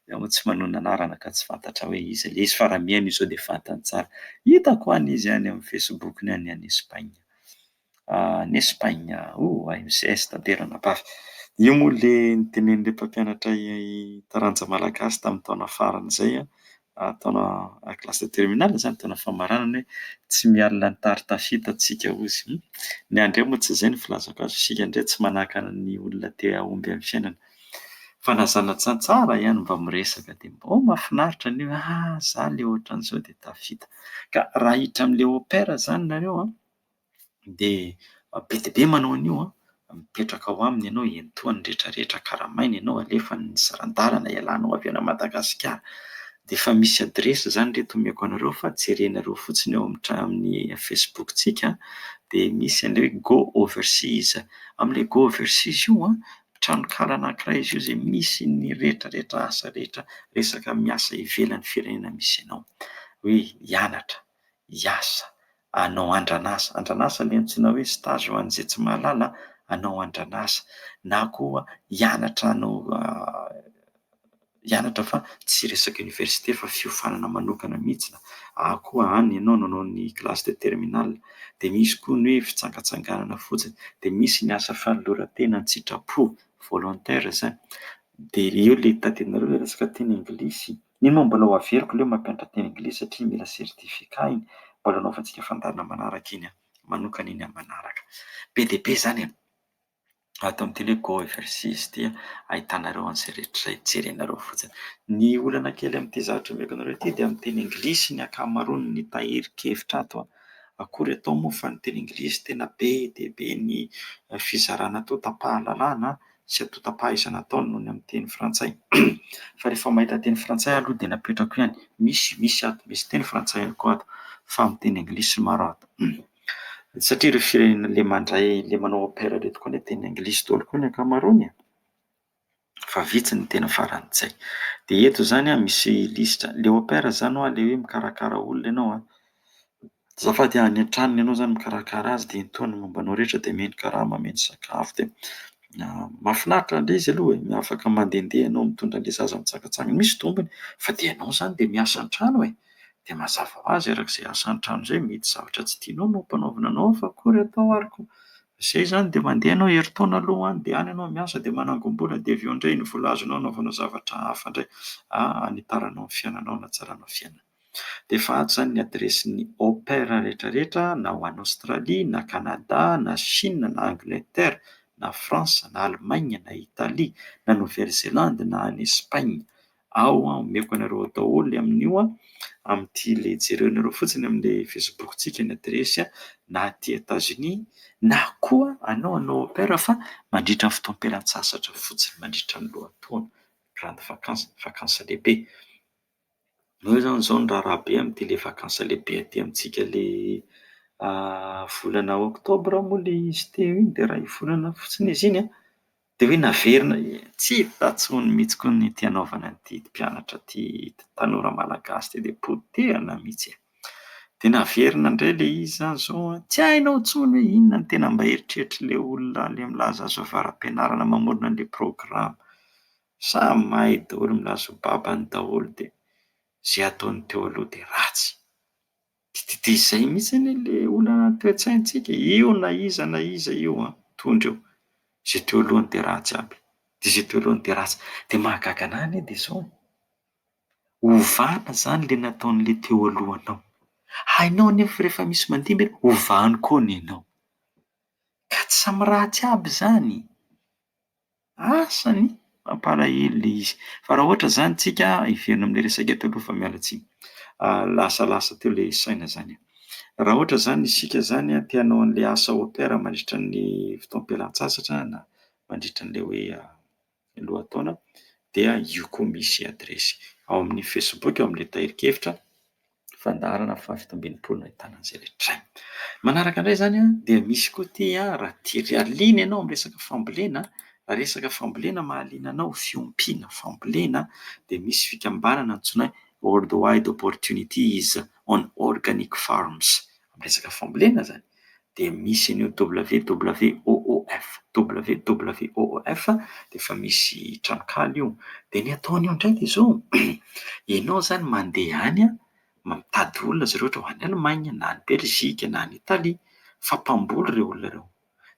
Za moa tsy manonona anarana ka tsy fantatra hoe iza le izy fa raha mihaino izao de fantany tsara. Hitako any izy any amin'ny facebook-ny any any Espagne. any Espagne oh ay mzs tanterana par io moa le nitenenin'ilay mpampianatra taranja malagasy tamin'ny taona farany izay an, taona classe de terminale izany taona famaranana hoe tsy miala ny tary tafita tsika ozy hum ny ahy indray moa tsy izay no filazako azy isika indray tsy manahaka ny olona te hahomby amin'ny fiainana fa na zana-tsantsaha ihany mba miresaka dia mba oh mahafinaritra an'io ah za le ohatran'izao dia tafita ka raha hiditra amin'ilay opera izany nareo an dia be dia be manao an'io an! mipetraka ao aminy ianao, iantohany ny rehetra rehetra, karamainy ianao, alefany ny saran-dalana, ialanao avy any Madagasikara, dia efa misy adiresy izany re eto omeko anareo fa jerenareo fotsiny ao amin'ny Facebook-tsika an! dia misy an'ilay hoe go overseas, amin'ilay go overseas io an! tranonkala anankiray izy io izay misy ny rehetra rehetra asa rehetra resaka miasa ivelan'ny firenena misy anao, hoe hianatra, hiasa, Hanao andran'asa. Andran'asa le antsoina hoe stage ho an'izay tsy mahalala a, hanao andran'asa na koa hianatra hanao hianatra fa tsy resaka université fa fiofanana manokana mihitsy na koa any ianao nanao ny classe de terminale. Dia misy koa ny hoe fijangajangana fotsiny, dia misy ny asa fanoloran-tena an-tsitrapo, volontaires, dia eo le tadiavinareo le resaka teny anglisy. Nino aho mbola ho averiko leo mampianatra teny anglisy satria mila certificat iny mbola anaovantsika fandaharana manaraka iny aho manokana iny aho manaraka be dia be zany e ato amin'ny tele go overseas ity ahitanareo an'izay rehetra izay jerenareo fotsiny ny olana kely amin'ity zavatra omeko anareo ity dia amin'ny teny anglisy ny ankamaroany ny tahirin-kevitra ato an akory atao moa fa ny teny anglisy tena be dia be ny fizarana toa tapahan-dalàna sy antontam-pahaizana ataony noho ny amin'ny teny frantsay fa rehefa mahita teny frantsay aho aloha dia napetrako ihany, misy misy ato, misy teny frantsay ihany koa ato fa miteny anglisy no maro ato satria ireo firenena le mandray le manao au pair ireto koa anie teny anglisy daholo koa ny ankamaroany e! fa vitsy ny teny farantsay. Dia eto izany misy lisitra, le au pair izany hoa le hoe mikarakara olona ianao an! Azafady a, any an-tranony ianao zany mikarakara azy dia intoa ny momba anao rehetra dia omeny karama, omeny sakafo dia mahafinaritra indray izy aloha e, afaka mandehandeha ianao mitondra an'le zaza mitsangatsangana, misy tombony fa dia ianao zany dia miasa an-trano e, dia mazava ho azy araka izay asa an-trano izay mety zavatra tsy tianao no ampanaovina anao ao fa akory atao ary koa, izay zany dia mandeha ianao herintaona aloha any dia any ianao miasa dia manangom-bola dia avy eo indray ny vola azonao anaovana zavatra hafa indray, hanitaranao ny fiainanao, hanatsaranao ny fiainana. Dia efa ato izany ny adiresin'ny au pair rehetra rehetra na ho any Aostralia na Kanada na Shina na Angleterre na France na Allemagne na Italie na Nouvelle Zélande na any Espagne ao aho. Omeko anareo ao daholo amin'io amin'ity le jereonareo fotsiny amin'ilay facebook-tsika ny adiresy na aty Etats-Unis na koa anao hanao au pair fa mandritra ny fotoam-pialantsasatra fotsiny mandritra ny lohataona grande vacance, vakansy lehibe. Io izany izao ny raharaha be amin'ity ilay vakansy lehibe aty amintsika ilay volana oktobra moa ilay izy teo iny dia raha iny volana fotsiny izy iny an, dia hoe naverina, tsy hita intsony mihitsy koa ny ity hanaovana ity mpianatra ity, ity tanora malagasy ity dia potehina mihitsy e! Dia naverina indray ilay izy izany izao an, tsy hainao intsony hoe inona no tena mba eritreritr'ilay olona ilay milaza azy avy ara-pianarana mamorona ilay programa. Samy mahay daholo milaza ho babany daholo dia izay ataony teo aloha dia ratsy. Dia izay mihitsy anie ilay olana toe-tsaintsika eo na iza na iza eo an! tondra eo. Izay teo alohany dia ratsy aby dia izay teo alohany dia ratsy. Dia mahagaga anahy anie dia izao an! ovana izany ilay nataon'ilay teo alohanao, hainao anefa fa rehefa misy mandihy ve ovany koa ny anao. Ka tsy samy ratsy aby izany. Asany mampalahelo le izy fa raha ohatra zany tsika hiverina amle resaka teo aloha fa miala tsiny lasa lasa teo le saina zany raha ohatra zany isika zany te hanao anle asa au pair mandritra ny fotoam-pialantsasatra na mandritra anle hoe lohataona dia io koa misy adiresy ao amin'ny facebook ao amle tahirin-kevitra Fandaharana fahafito ambin'ny folo no ahitana an'izay rehetra izay. Manaraka indray izany dia misy koa ity raha tianao haliana ianao amin'ny resaka fambolena, raha resaka fambolena mahaliana anao, fiompiana, fambolena dia misy fikambanana antsoina hoe World Wide Opportunities on Organic Farms. Resaka fambolena izany. dia misy an'io WWOOF, WWOOF dia efa misy tranonkala io. Dia ny ataony eo indray dia izao, ianao izany mandeha any mitady olona zareo ohatra any Allemagne na any Belgique na any Italie fa mpamboly ireo olona ireo,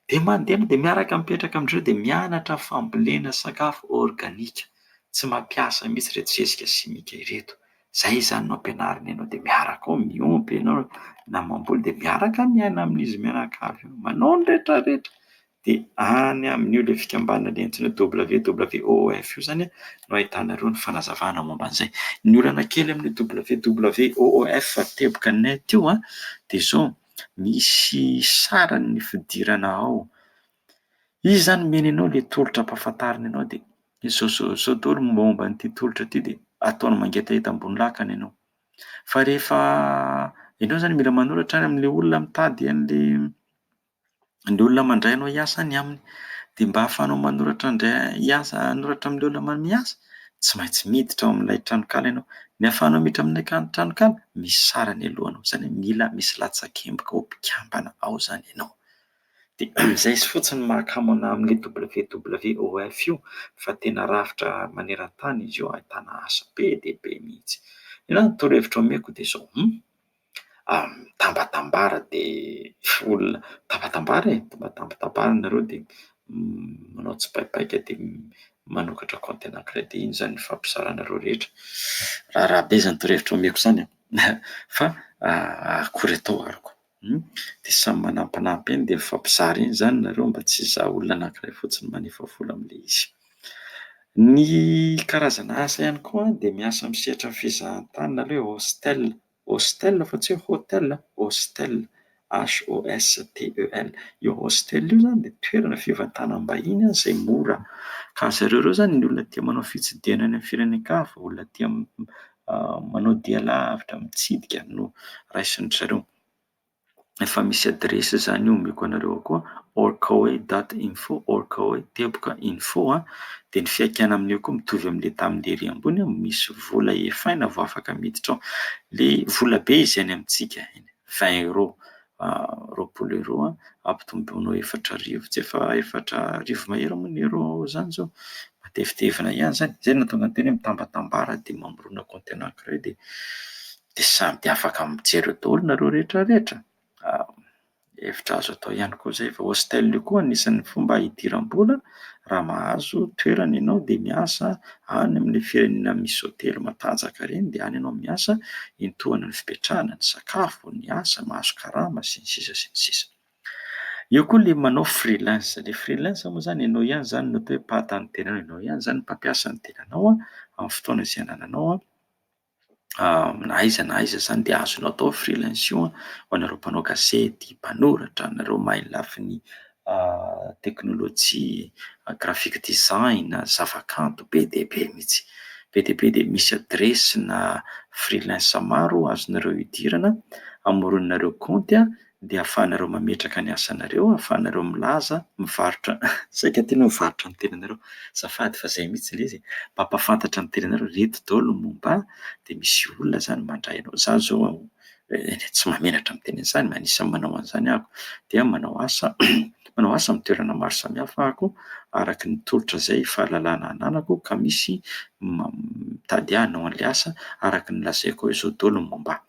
dia mandeha ianao dia miaraka mipetraka amin-dry zareo dia mianatra fambolena sakafo organique, tsy mampiasa mihitsy ireto zezika simika ireto Zay izany no ampianariny anao de miaraka ao miompy ianao na mamboly de miaraka miaina amin'izy mianakavy io, manao ny retraretra de any amin'io le fikambanana le antsoina hoe WWOF io zany a no ahitanareo ny fanazavana momba an'izay. Ny olana kely amin'io WWOF teboka net io a de zao, misy sarin'ny fidirana ao Izy zany omeny anao le tolotra ampahafantariny anao de sao daholo ny momba an'ity tolotra ity de ataony mangetaheta ambony lakana ianao. Fa rehefa ianao zany mila manoratra any am'le olona mitady an'le an'le olona mandray anao hiasa any aminy de mba ahafahanao manoratra ndray- hiasa hanoratra am'le olona ma- miasa tsy maintsy miditra ao am'lay tranonkala ianao. Ny ahafahanao miditra amin'ilay kan- tranonkala misy sarany aloha anao, zany hoe mila misy latsak'emboka ao mpikambana ao zany ianao. Dia amin'izay izy fotsiny mahakamo anà amin'io WWOF io fa tena rafitra maneran-tany izy io ahitana asa be dia be mihitsy. Inona ny torohevitra omeko dia izao, hum, mitambatambara dia olona mitambatambara e, mitambatambara nareo dia manao tsipaipaika dia manokatra compte ana credit, iny izany ifampizarànareo rehetra, raharaha be izany torohevitra omeko izany an! fa akory atao aroko. Hum, dia samy manampinampy eny dia mifampizara eny izany nareo mba tsy hizaha olona anankiray fotsiny manefa vola amin'ilay izy. Ny karazana asa ihany koa dia miasa amin'ny sehatran'ny fizahantany nareo e, hostel, hostel fa tsy hoe hotel an, hostel, HOSTEL, io hostel io izany dia toerana fivantanam-bahiny izay mora ka zareo ireo izany ny olona tia manao fitsidihana any amin'ny firenen-kafa, olona tia manao dia lavitra mitsidika no raisin-dry zareo. Efa misy adiresy izany omeko anareo ao koa, orkaoe dot info, orkaoe teboka info a. Dia ny fiaikàna amin'io koa mitovy amin'ilay tamin'ilay ery ambony, misy vola efaina vao afaka miditra ao. Ilay vola be izay any amintsika, vingt euros. roapolo euro ampitomboina ho efatra arivo tsy efa efatra arivo mahery moa ny euro izany zao matevitevina ihany izany izay no tonga teny mitambatambara dia mamorona compte anankiray dia dia sady afaka mijery eo daholo nareo rehetra rehetra hevitra azo atao ihany koa izay fa hostel io koa anisan'ny fomba hidiram-bola Raha mahazo toerana ianao dia miasa any amin'ilay firenena misy hotely matanjaka ireny dia any ianao miasa hiantohana ny fipetrahana, ny sakafo, ny asa, mahazo karama sy ny sisa sy ny sisa. Eo koa ilay manao freelance, ilay freelance moa izany ianao ihany izany no atao hoe mpahata ny tenanao, ianao ihany izany mpampiasa ny tenanao amin'ny fotoana izay anananao. na aiza na aiza izany dia azonao atao freelance io an, ho anareo mpanao gazety, mpanoratra, anareo mahay ny lafiny teknolojia, graphic design, zavakanto be dia be mihitsy, be dia be dia misy adiresina freelance maro azonareo idirana, amorononareo kaonty an. dia ahafahanareo mametraka ny asanareo, ahafahanareo milaza, mivarotra, saika tianao hivarotra ny tenanareo. Azafady fa izay mihitsy ilay izy e! Mba ampahafantatra ny tenanareo, ireto daholo ny momba ahy, dia misy olona izany mandray anao. Izaho izao tsy mahamenatra miteny an'izany, anisan'ny manao an'izany aho. Dia manao asa manao asa amin'ny toerana maro samihafa aho araka ny tolotra izay fahalalana ananako ka misy mitady ahy hanao an'ilay asa araka ny lazaiko ao izao daholo ny momba ahy.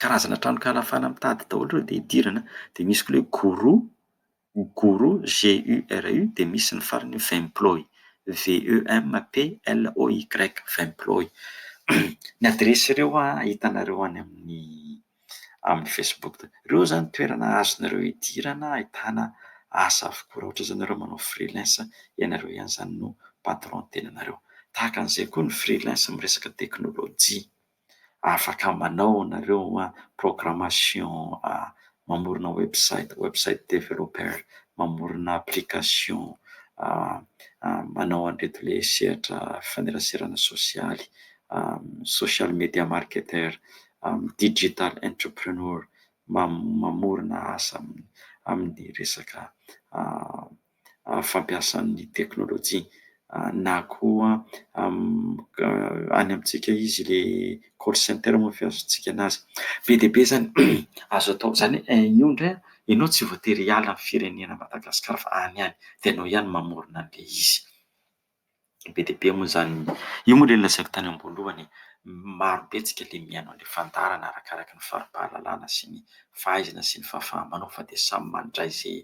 karazana tranonkala fala mitady daholo ireo dia idirana dia misy koa ilay guru guru GURU dia misy ny farany vemploy VEMPLOY vemploy ny adiresy ireo hitanareo any amin'ny amin'ny facebook ireo izany toerana azonareo idirana ahitana asa avokoa raha ohatra izany ianareo manao freelance ianareo ihany izany no patron tenanareo tahaka an'izay koa ny freelance amin'ny resaka teknolojia afaka manao nareo programmation mamorona website, website developer, mamorona application, manao an'ireto le sehatra faneraserana sosialy, social media marketer, digital entrepreneur, mamorona asa amin'ny resaka. fampiasan'ny teknolojia na koa any amintsika izy le call center moa fiazontsika anazy be dia be izany azo atao izany io indray ianao tsy voatery hiala ny firenena madagasikara fa any ihany dia ianao ihany mamorona an'le izy Be dia be moa izany, io moa ilay lazaiko tany am-boalohany e, maro be antsika ilay mihaino an'ilay fandaharana arakaraka ny fari-pahalalana sy ny fahaizana sy ny fahafaha-manao fa dia samy mandray izay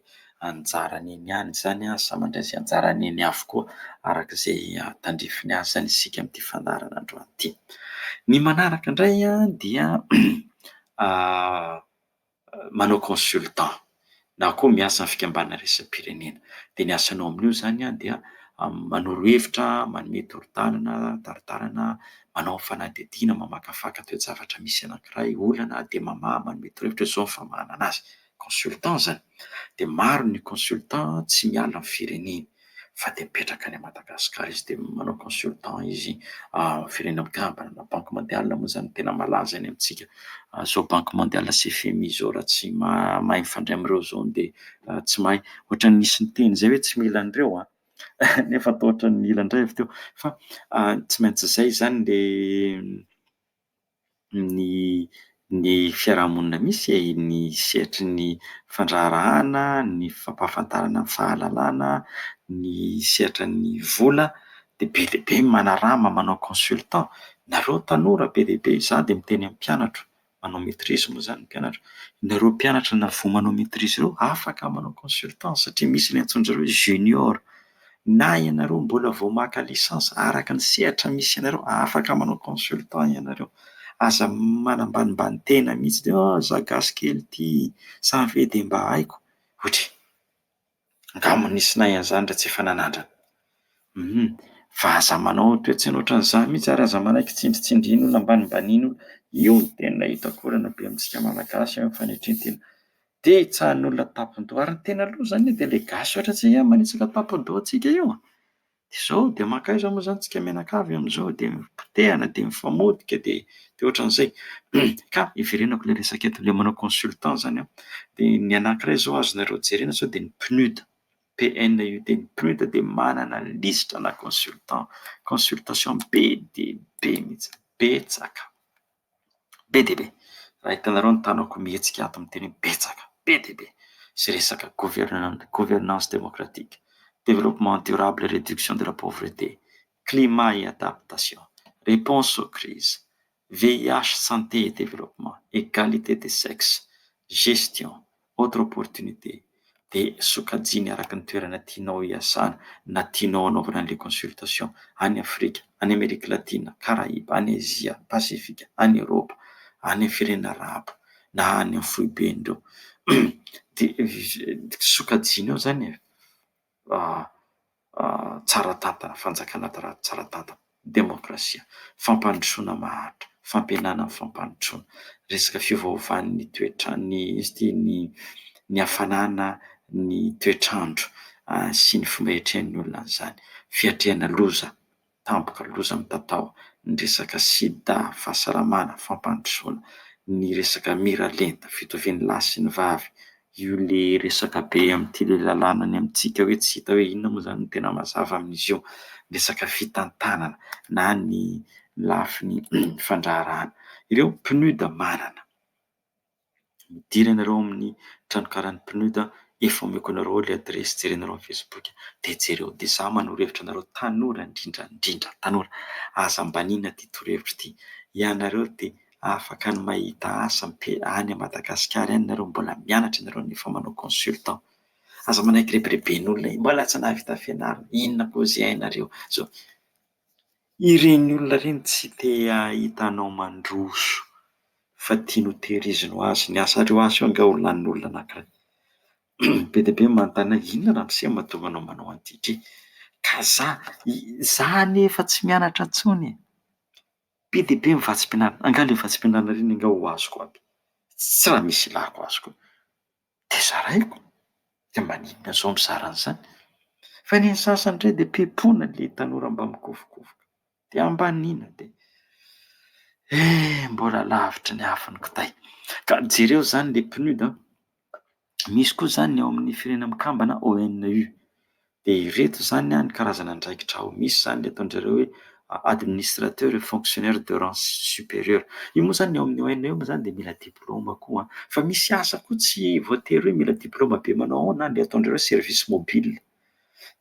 anjarany eny ihany izany an, samy mandray izay anjarany eny avokoa araka izay tandrify ny asany isika amin'ity fandaharana androany ity. Ny manaraka indray an dia manao consultant na koa miasa amin'ny fikambanana iraisam-pirenena. Dia ny asanao amin'io izany dia manoro hevitra, manome torotanana, taritarana, manao fanadihadiana, mamakafaka toe-javatra misy anankiray, olana, dia mamaha, manome torohevitra, izao ny famahanana azy. Consultant izany. Dia maro ny consultant tsy miala amin'ny fireneny. fa dia mipetraka any Madagasikara izy dia manao consultant izy amin'ny firenena mikambana na banky mondialy moa izany tena malaza any amintsika. Izao banky mondialy sy fmi izao raha tsy mahay mifandray amin'ireo izao dia tsy mahay. Ohatran'ny nisy niteny izay hoe tsy mila an'ireo an! nefa toa ohatran'ny mila indray avy teo fa tsy maintsy izay izany dia ny ny fiarahamonina misy e, ny sehatry ny fandraharahana, ny fampahafantarana ny fahalalana, ny sehatra ny vola dia be dia be ny manarama manao consultant, nareo tanora be dia be za dia miteny amin'ny mpianatro manao maitrise moa zany ny mpianatro, nareo mpianatra na vao manao maitrise reo afaka manao consultant satria misy ny antsoin-dry zareo hoe junior. Na ianareo mbola vao maka licence araka ny sehatra misy anareo afaka manao consultant ianareo. Aza manambanimbany tena mihitsy de ah za gasy kely ity sa ny fe de mba haiko otry angamba nisy nahay an'zany ra tsy efa nanandrana hum fa aza manao toetsaina otran'za mihitsy ary aza manaiky tsindritsindrian'olona ambanimbanin'olona io ny tena hitako olana be amintsika malagasy eo am fanetrentena Dia hitsahan'ny olona tampondoha. Ary ny tena loza zany dia le gasy ohatra tsy hay manitsaka tampondohantsika io a! Dia zao, dia mankaiza moa zany tsika mianakavy amzao dia potehana dia mifamotika dia dia ohatran'izay. Ka iverenako le resaka eto, le manao consultant zany an, dia ny anankiray zao azonareo jerena sao dia ny PNUD, PNUD, ny PNUD dia manana lisitra ana consultant, consultation be dia be mihitsy, betsaka. be dia be. Raha hitanareo ny tanako mihetsika ato miteny hoe betsaka, be dia be. Izay resaka governemanta, gouvernance démocratique, développement durable et réduction de la pauvreté, climat et adaptation, réponse aux crises, VIH, santé et développement, égalité des sexes, gestion, Autre opportunité, dia sokajiany araka ny toerana tianao hiasana na tianao hanaovana an'ilay consultation, any Afrika, any Amerika Latina, Karaiba, any Azia, Pasifika, any Eoropa, any amin'ny firenena Arabo na any amin'ny foiben'ireo dia sokajianao izany e! tsara tantana, fanjakana tsara tantana, demokrasia, fampandrosoana maharitra, fampihenana ny fampandrosoana, resaka fiovaovan'ny toetrany, izy ity ny ny hafanana, ny toetr'andro sy ny fomba iatrehan'ny olona an'izany, fiatrehana loza. tampoka loza mitatao ny resaka sida, fahasalamana, fampandrosoana, ny resaka miralenta, fitovian'ny lahy sy ny vavy, io le resaka be amin'ity le lalàna any amintsika hoe tsy hita hoe inona moa zany no tena mazava amin'izy io, ny resaka fitantanana na ny lafiny fandraharahana. Ireo PNUD manana. midira ianareo ao amin'ny tranonkalan'ny PNUD efa omeko anareo ilay adiresy jerenareo amin'ny facebook dia jereo dia za manoro hevitra anareo tanora indrindra indrindra tanora aza ambaniana ity torohevitra ity ianareo dia afaka ny mahita asa mpe any Madagasikara any nareo mbola mianatra ianareo nefa manao consultant aza manaiky rebireben'olona mbola tsy nahavita fianarana inona koa izay hainareo zao Ireny olona ireny tsy te hahita anao mandroso fa tiany ho tehiriziny ho azy ny asa. Aleo asa eo ange ho lanin'ny olona anankiray. Be dia be ny manontany ahy hoe inona ramose no mahatonga anao manao an'ity ity? Ka za, za anie efa tsy mianatra intsony e! Be dia be ny vatsim-pianarana, angaha ilay vatsim-pianarana ireny ange ho azoko aby? Tsy raha misy ilàko azy koa. dia zaraiko, de maninona zao mizara an'izany? Fa ny an'ny sasany ndray dia pepona le tanora mba mikofokofoka, de ambaniana de eh! mbola lavitry ny afo ny kitay, ka jereo zany le PNUD an, misy koa zany ny ao amin'ny firenena mikambana ONU. Dia ireto izany ny karazana andraikitra ao, misy izany ataon-dry zareo hoe administrateur et fonctionnaire de rang supérieur. Io moa izany ny ao amin'ny ONE moa izany dia mila diplaoma koa, fa misy asa koa tsy voatery hoe mila diplaoma be manao ao na ny ataon-dry zareo service mobile,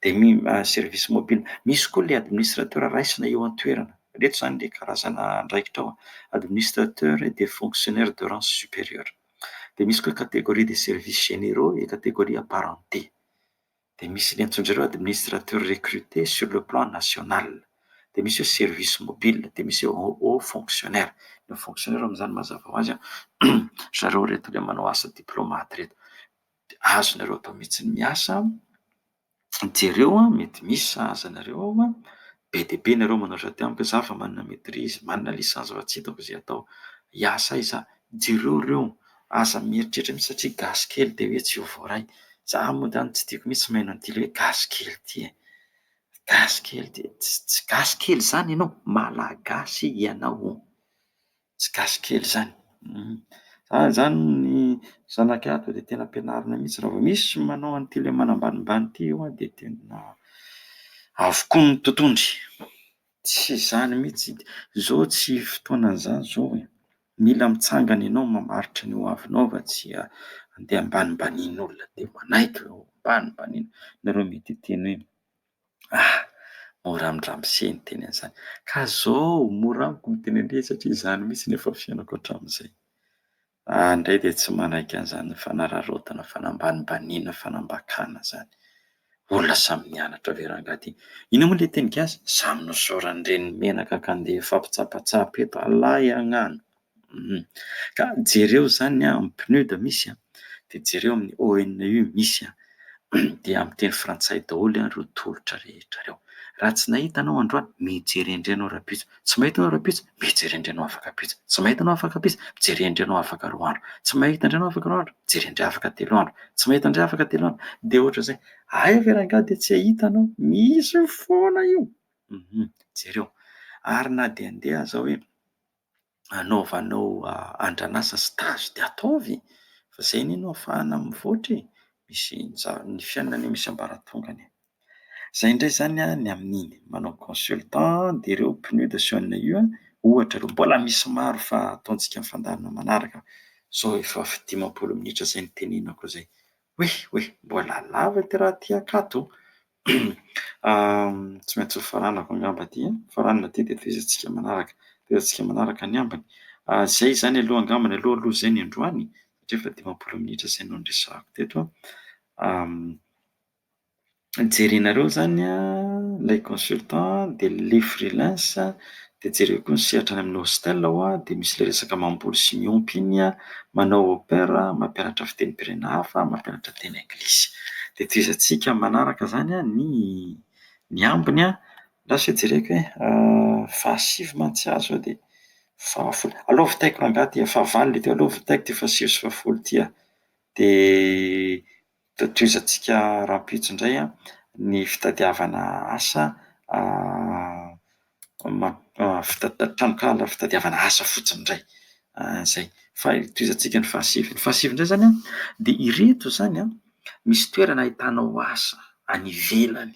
dia mi- service mobile. Misy koa ilay administrateur raisina eo an-toerana, ireto izany ilay karazana andraikitra ao, administrateur et fonctionnaire de rang supérieur. Dia misy koa catégorie des services généraux et catégorie apparentés. Dia misy ny antsoin-dry zareo administrateur recruté sur le plan national. Dia misy hoe service mobile, dia misy hoe haut fonctionnaire. Ny haut fonctionnaire amin'izany mazava ho azy an, ry zareo ireto ilay manao asa diplomate ireto. Dia azonareo atao mihitsy ny miasa, jereo an, mety misy sahaza anareo ao an, Be dia be nareo manoatra aty amiko za fa manana maitrise, manana licence fa tsy hitako ze atao, hiasa aiza ah? Jereo reo aza mieritreritra mihitsy satria gasy kely dia hoe tsy ho voaray, za mody any tsy tiako mihitsy mihaino an'ity le hoe gasy kely ity e! gasy kely ity, tsy gasy kely zany ianao, malagasy ianao. Tsy gasy kely izany. Za izany ny zanakay ato dia tena ampianarina mihitsy raha vao misy manao an'ity ilay manambanimbany ity eo dia tena avokoa ny totohondry. Tsy izany mihitsy, izao tsy fotoanan'izany izao e. Mila mitsangana ianao mamaritra ny hoavinao fa tsy handeha ambanimbanian'olona dia manaiky ambanimbaniana. Nareo mety hiteny hoe. Ah! mora amin ramose ny teny an'izany ka zao mora amiko miteny an'le satria izany mihitsy no efa fiainako hatramin'izay. Za indray dia tsy manaiky an'izany fanararaotana, fanambanimbaniana, fanambakana zany. Olona samy nianatra ve rangahy ty? Inona moa le teny gasy? Samy nosaoran'i reny menaka ka ndeha hifampitsapatsapa eto. Alay agnano. Ka jereo izany amin'ny PNUD misy an, dia jereo amin'ny ONU misy an, dia amin'ny teny frantsay daholo ireo tolotra rehetra ireo. Raha tsy nahita anao androany, mijery endry anao rahampitso. Tsy mahita anao rahampitso, mijery endry anao afaka ampitso. Tsy mahita anao afaka ampitso, mijery endry anao afaka roa andro. Tsy mahita endry anao afaka roa andro, mijery endry afaka telo andro. Tsy mahita indray afaka telo andro, dia ohatr'izay, aiza ve rangahy dia tsy hahita anao? Misy foana io! Jereo. Ary na dia handeha aza aho hoe. anaovanao andran'asa stage dia ataovy fa zay anie no afahana mivoatra e! misy ny fiainana anie misy ambaratongany e! zay ndray zany ny amin'iny manao consultant dia ireo pneus de chaine io an, ohatra aloha, mbola misy maro fa ataontsika amin'ny fandaharana manaraka, zao efa dimampolo minitra zay no tenenako zay, oeh oeh mbola lava ity raha ty ankato, Tsy maintsy ho faranako angamba aty an! Faranana aty dia tohizantsika manaraka. Tohizantsika manaraka ny ambiny. Izay izany aloha angambany aloha aloha izay ny androany satria efa dimampolo minitra izay no niresahako teto an! Jerenareo izany an, ilay consultant dia le freelance Dia jereo koa ny sehatra any amin'ny hostel ao dia misy ilay resaka mamboly sy miompy iny, manao au pair, mampianatra fitenim-pirenena hafa, mampianatra teny anglisy. Dia tohizantsika manaraka izany ny ny ambiny lasa dia jereko hoe fahasivy mantsy aho izao dia fahafolo. Aleo vitaiko rangahy ity, fahavalo ilay teo, aleo vitaiko ity fahasivy sy fahafolo ity an! Dia Tohizoantsika rahampitso indray ny fitadiavana asa tranonkala fitadiavana asa fotsiny indray. Izay. Fa tohizantsika ny fahasivy. Ny fahasivy indray izany dia ireto izany an, misy toerana ahitanao asa any ivelany.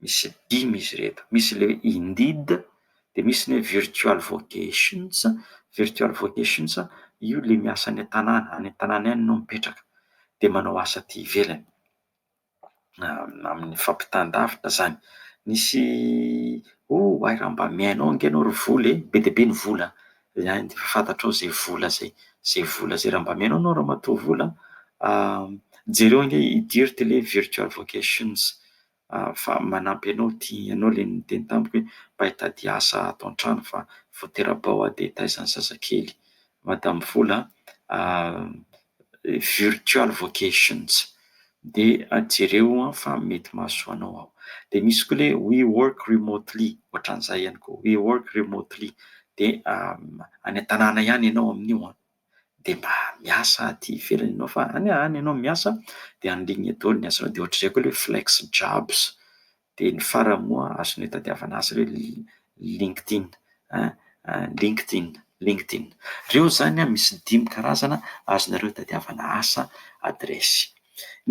Misy dimy izy ireto, misy le indeed, dia misy ny hoe virtual vocations, virtual vocations io le miasa any an-tanàna, any an-tanàna any enao mipetraka dia manao asa aty ivelany, amin'ny fampitan-davitra zany, misy oh hay raha mba mihaino ange enao ry vola e, be dia be ny vola an, zany dia efa fantatrao zay vola zay, zay vola zay, raha mba mihaino anao ramatoa vola an, jereo ange i Dirt le virtual vocations. fa manampy anao ity ianao ilay niteny tamiko hoe mba hitady asa ato an-trano fa vao tera-bao aho dia taiza ny zazakely? Madame Vola a, virtual vocations dia jereo fa mety mahasoa anao aho. Dia misy koa ilay we work remotely, ohatran'izay ihany koa, we work remotely dia any an-tanàna ihany ianao amin'io an! dia mba miasa aty ivelany ianao fa any any ianao miasa dia en ligne daholo ny asanao dia ohatr'izay koa ilay hoe flex jobs dia ny farany moa azonao itadiavana asa ilay hoe LinkedIn an LinkedIn LinkedIn ireo izany misy dimy karazana azonareo itadiavana asa adiresy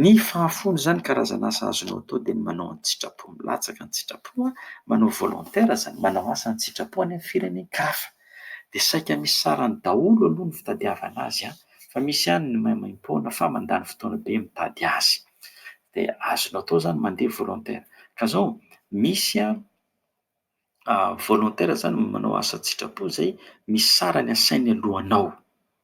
Ny fahafoana izany karazana asa azonao atao dia ny manao an-tsitrapo, milatsaka an-tsitrapo, manao volontaire izany, manao asa an-tsitrapo any amin'ny firenen-kafa. Dia saika misy sarany daholo aloha ny fitadiavana azy fa misy ihany ny maimaimpoana fa mandany fotoana be mitady azy. Dia azonao atao izany mandeha volontaire. Ka izao, misy an! volontaire zany manao asa an-tsitrapo zay misy sarany asainy alohanao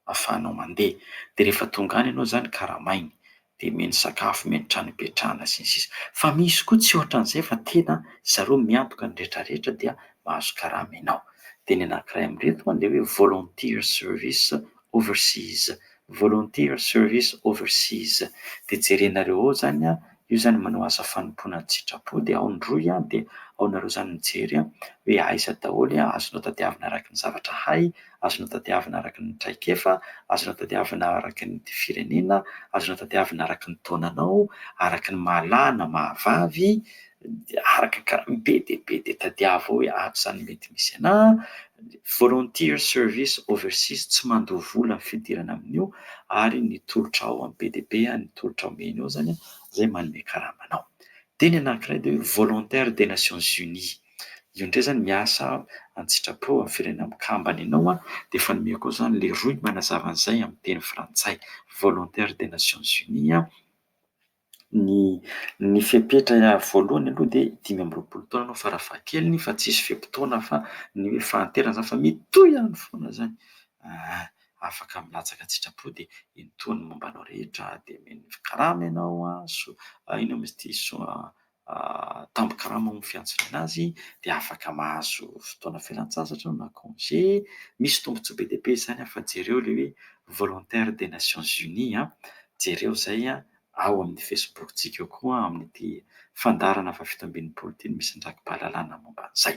afahanao mandeha de rehefa tonga any ianao zany karamainy de omeny sakafo, omeny trano ipetrahana sy ny sisa fa misy koa tsy ohatran'izay fa tena zareo miantoka ny retraretra dia mahazo karama ianao de ny anakiray amin'ireto a le hoe volunteer service overseas, volunteer service overseas de jerenareo ao zany a. Eo izany manao asa fanompoana an-tsitrapo dia ao ny rohy an, dia ao nareo izany mijery an, hoe aiza daholo an, azonao tadiavina araka ny zavatra hay, azonao tadiavina araka ny traikefa, azonao tadiavina araka ny firenena, azonao tadiavina araka ny taonanao, araka ny maha lahy na maha vavy, dia araka ny kara, be dia be dia tadiavo ao hoe ato izany mety misy anah, Volunteer Service Overseas tsy mandoa vola ny fidirana amin'io ary ny tolotra ao amin'ny BDB ny tolotra omeny ao izany izay manome karama anao. Dia ny anankiray dia hoe Volontaire des Nations Unies. Io indray izany miasa an-tsitrapo amin'ny firenena mikambana ianao dia efa nomeko ao izany ilay rohy manazava an'izay amin'ny teny frantsay. Volontaire des Nations Unies. Ny ny fepetra voalohany aloha dia dimy amby roapolo taona ianao farafahakeliny fa tsisy fe-potoana fa ny hoe fahanterana zany fa mitohy ihany foana zany ah afaka milatsaka an-tsitrapo dia iny tohiny momba anao rehetra dia omeny karama ianao an so- inona moa izy ity so- tambin-karama amin'ny fiantsonana azy dia afaka mahazo fotoana fialan-tsasatra na congé. Misy tombontsoa be dia be izany an, fa jereo ilay hoe volontaire des nations unies an, jereo izay an, ao amin'ny Facebook-tsika ao koa amin'ity fandaharana fahafito amby enimpolo ity no misy ny rakipahalalana momba an'izay.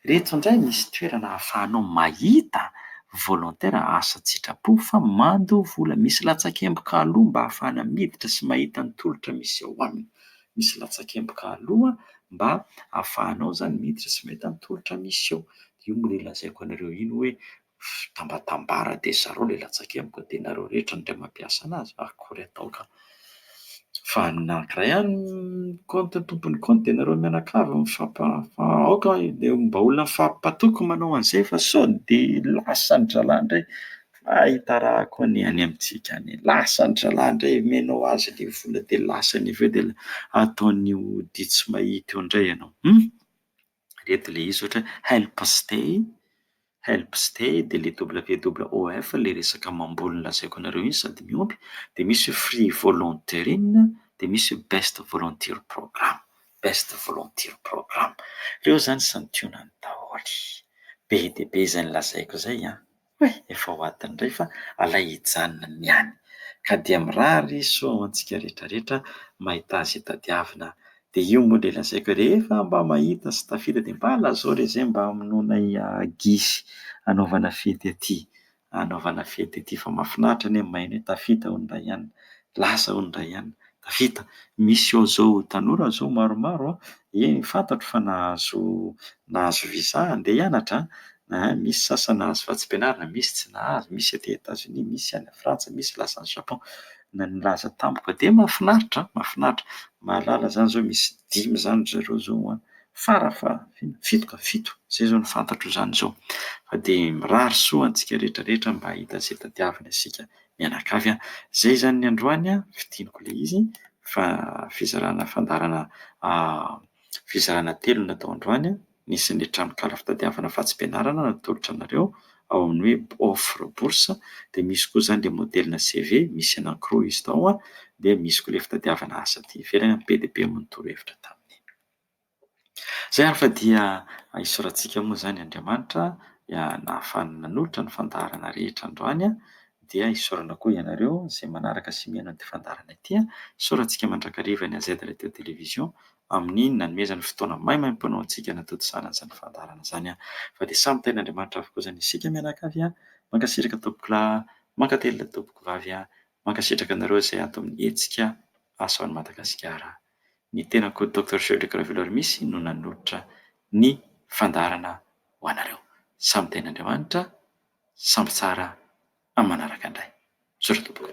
Ireto indray misy toerana ahafahanao mahita volontaire asa an-tsitrapo fa mandoa vola, misy latsakemboka aloha mba ahafahana miditra sy mahita ny tolotra misy ao aminy. misy latsakemboka aloha mba ahafahanao izany miditra sy mahita ny tolotra misy eo. Dia io no ilazaiko anareo iny hoe tambatambara dia zarao ilay latsakemboka dia nareo rehetra indray mampiasa anazy fa akory atao ka. Fa ny anankiray ihany compte ny tompon'ny compte dia nareo mianakavy mifampa fa aoka dia mba olona mifampatoky manao an'izay fa sao dia lasan'ny zalahy indray Fa itarahako ny any amintsika any, lasa ny zalahy indray omenao azy le vola de lasany avy eo de ataony ody tsy mahita eo indray ianao hum! Ireto le izy ohatra hoe help stay, help stay de le WWOF le resaka mamboly nolazaiko anareo iny sady miompy de misy hoe free volunteering de misy hoe best volunteer program, best volunteer program, reo zany santionany daholo, be dia be izay nolazaiko izay an! Hoy efa ho ato indray fa alay hijanona ny any ka dia mirary soa ho antsika rehetra rehetra mahita azy tadiavina dia io moa dia lazaiko hoe rehefa mba mahita sy tafita dia mba lazao re zay mba hamonoanay gisy hanaovana fety aty hanaovana fety aty fa mafinaritra anie mahay ny hoe tafita hono raha ihany lasa hono raha ihany Vita. Misy ao zao tanora zao maromaro an, eny fantatro fa nahazo nahazo visa handeha hianatra an, an, misy sasany nahazo vatsim-pianarana, misy tsy nahazo, misy aty Etats Unis, misy any Frantsa, misy lasa any Japon, na nilaza tamiko fa dia mahafinaritra an, mahafinaritra, mahalala zany zao misy dimy zany ry zareo zao ho any, fara fa fito ka, fito, zay zao no fantatro zany zao, fa dia mirary soa antsika rehetra rehetra mba hahita izay tadiavina isika Mianakavy an! Izay izany ny androany an! Fidiniko ilay izy fa fizarana fandaharana fizarana telo no natao androany. Nisy ny tranonkala fitadiavana vatsim-pianarana natolotra anareo ao amin'ny hoe offre bourse dia misy koa izany ilay modelina CV misy anankiroa izy tao dia misy koa ilay fitadiavana asa aty ivelany an! Be dia be amin'ny torohevitra taminy. Izay ary fa dia hisoratsika moa izany Andriamanitra dia nahafahany nanolotra ny fandaharana rehetra androany dia hisaorana koa ianareo izay manaraka sy mihaino an'ity fandaharana ity. Hisoratsika mandrakariva ny AZ Radio Télévision amin'ny nanomezany fotoana maimaimpoana ho antsika natontosana izany fandaharana izany fa dia samy tahin'Andriamanitra avokoa izany isika mianakavy. Mankasitraka tompokolahy, mankatelina tompokovavy, mankasitraka anareo izay ato amin'ny hetsika Asa ho an'i Madagasikara. Ny tenako Doctor Frederick Raveloarimisy no nanolotra ny fandaharana ho anareo. Samy Tenin'Andriamanitra, samy tsara amin'ny manaraka indray. Misaotra tompoko.